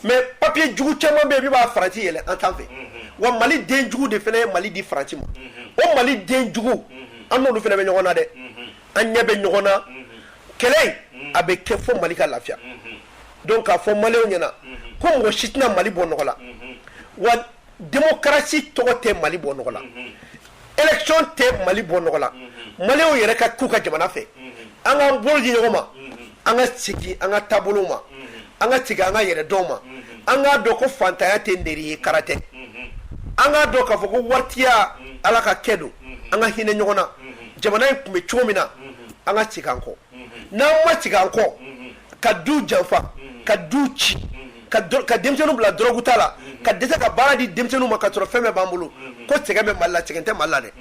mais papier jugu caman bɛ b'a faransi yɛlɛ an tan fɛ wa mali den jugu de fana ye mali di faransi ma o mali den jugu an bɛ ɲɔgɔn na dɛ an ɲɛ bɛ ɲɔgɔn na kɛlɛ a bɛ kɛ fɔ mali ka lafiya donc a fɔ maliw ɲɛ na ko mɔgɔ si tɛna mali bɔ nɔgɔ la Démocratie tɔgɔ tɛ Mali bɔ nɔgɔ la, unhun, élection tɛ Mali bɔ nɔgɔ la, unhun, Maliw yɛrɛ ka k'u ka jamana fɛ, unhun, an k'an bolo di ɲɔgɔn ma, unhun, an ka segin an ka taabolow ma, unhun, an ka segin an ka yɛrɛdɔn ma, unhun, an k'a dɔn ko fantanya tɛ neri ye kara tɛ, unhun, an k'a dɔn k'a fɔ ko waritiya Ala ka kɛ don, unhun, an ka hinɛ ɲɔgɔn na, unhun, jamana in tun bɛ cogo min na, unhun, an ka segin an kɔ n'an ma segin an kɔ ka du janfa ka du ci ka denmisɛnninw bila dɔrɔgu ta la ka dɛsɛ ka baara di denmisɛnninw ma ka sɔrɔ fɛn bɛɛ b'an bolo ko sɛgɛn bɛ mali la sɛgɛn tɛ mali la dɛ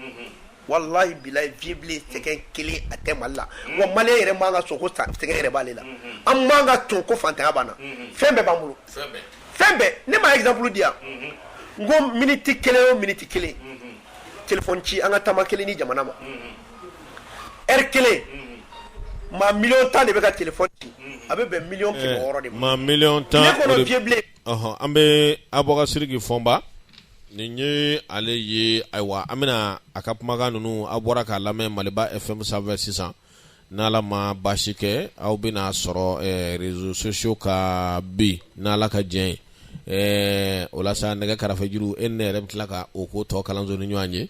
walahi bilahi vbile sɛgɛn kelen a tɛ mali la wa mali yɛrɛ man kan ka sɔn ko sɛgɛn yɛrɛ b'ale la an man kan ka sɔn ko fantanya b'an na fɛn bɛɛ b'an bolo fɛn bɛɛ ne ma exemple di yan n ko miniti kelen o miniti kelen téléphone ci an ka tama kelen ni jamana ma ri kelen maa million tan de bɛ ka téléphone ci a bɛ bɛn million kɛmɛ wɔɔrɔ de ma million tan an bɛ Abubakari Sidiki Fɔnba nin ye ale ye ayiwa an bɛna a ka kumakan ninnu a bɔra k'a lamɛn maliba fm sanfɛ sisan n' ala ma baasi kɛ aw bɛn'a sɔrɔ réseaux sociaux kan bi n ala ka jɛn o la sa nɛgɛ karafe juru e ne yɛrɛ bɛ tila ka o ko tɔ kalanso ni ɲɔgɔn ye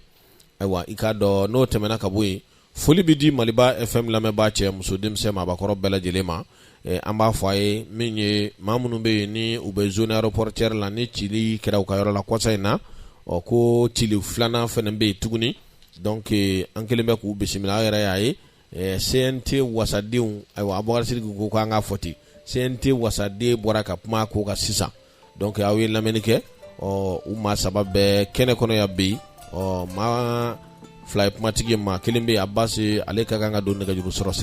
ayiwa i k'a dɔn n'o tɛmɛna ka bɔ yen foli bɛ di maliba fm lamɛnbaa cɛ muso denmisɛn maabakɔrɔ bɛɛ lajɛlen ma eh, an b'a fɔ aw ye min ye maa minnu bɛ yen ni u bɛ zone aéroportuaire la ni cili kɛra u ka yɔrɔ la kɔsa in na ɔ ko cili filanan fana bɛ yen tuguni donc eh, an kɛlen bɛ k'u bisimila aw yɛrɛ y'a ye ɛɛ CNT wasadenw ayiwa Abubakari Sidiki ko k'an ka fɔ ten CNT wasaden bɔra ka kuma a ko kan sisan donc aw ye lamɛnni kɛ ɔ u maa saba bɛ kɛnɛ kɔnɔ yan bi ɔ maa fila ye kumatigi ye maa kelen bɛ yen Abasi ale ka kan ka don nɛgɛjuru sɔrɔ sira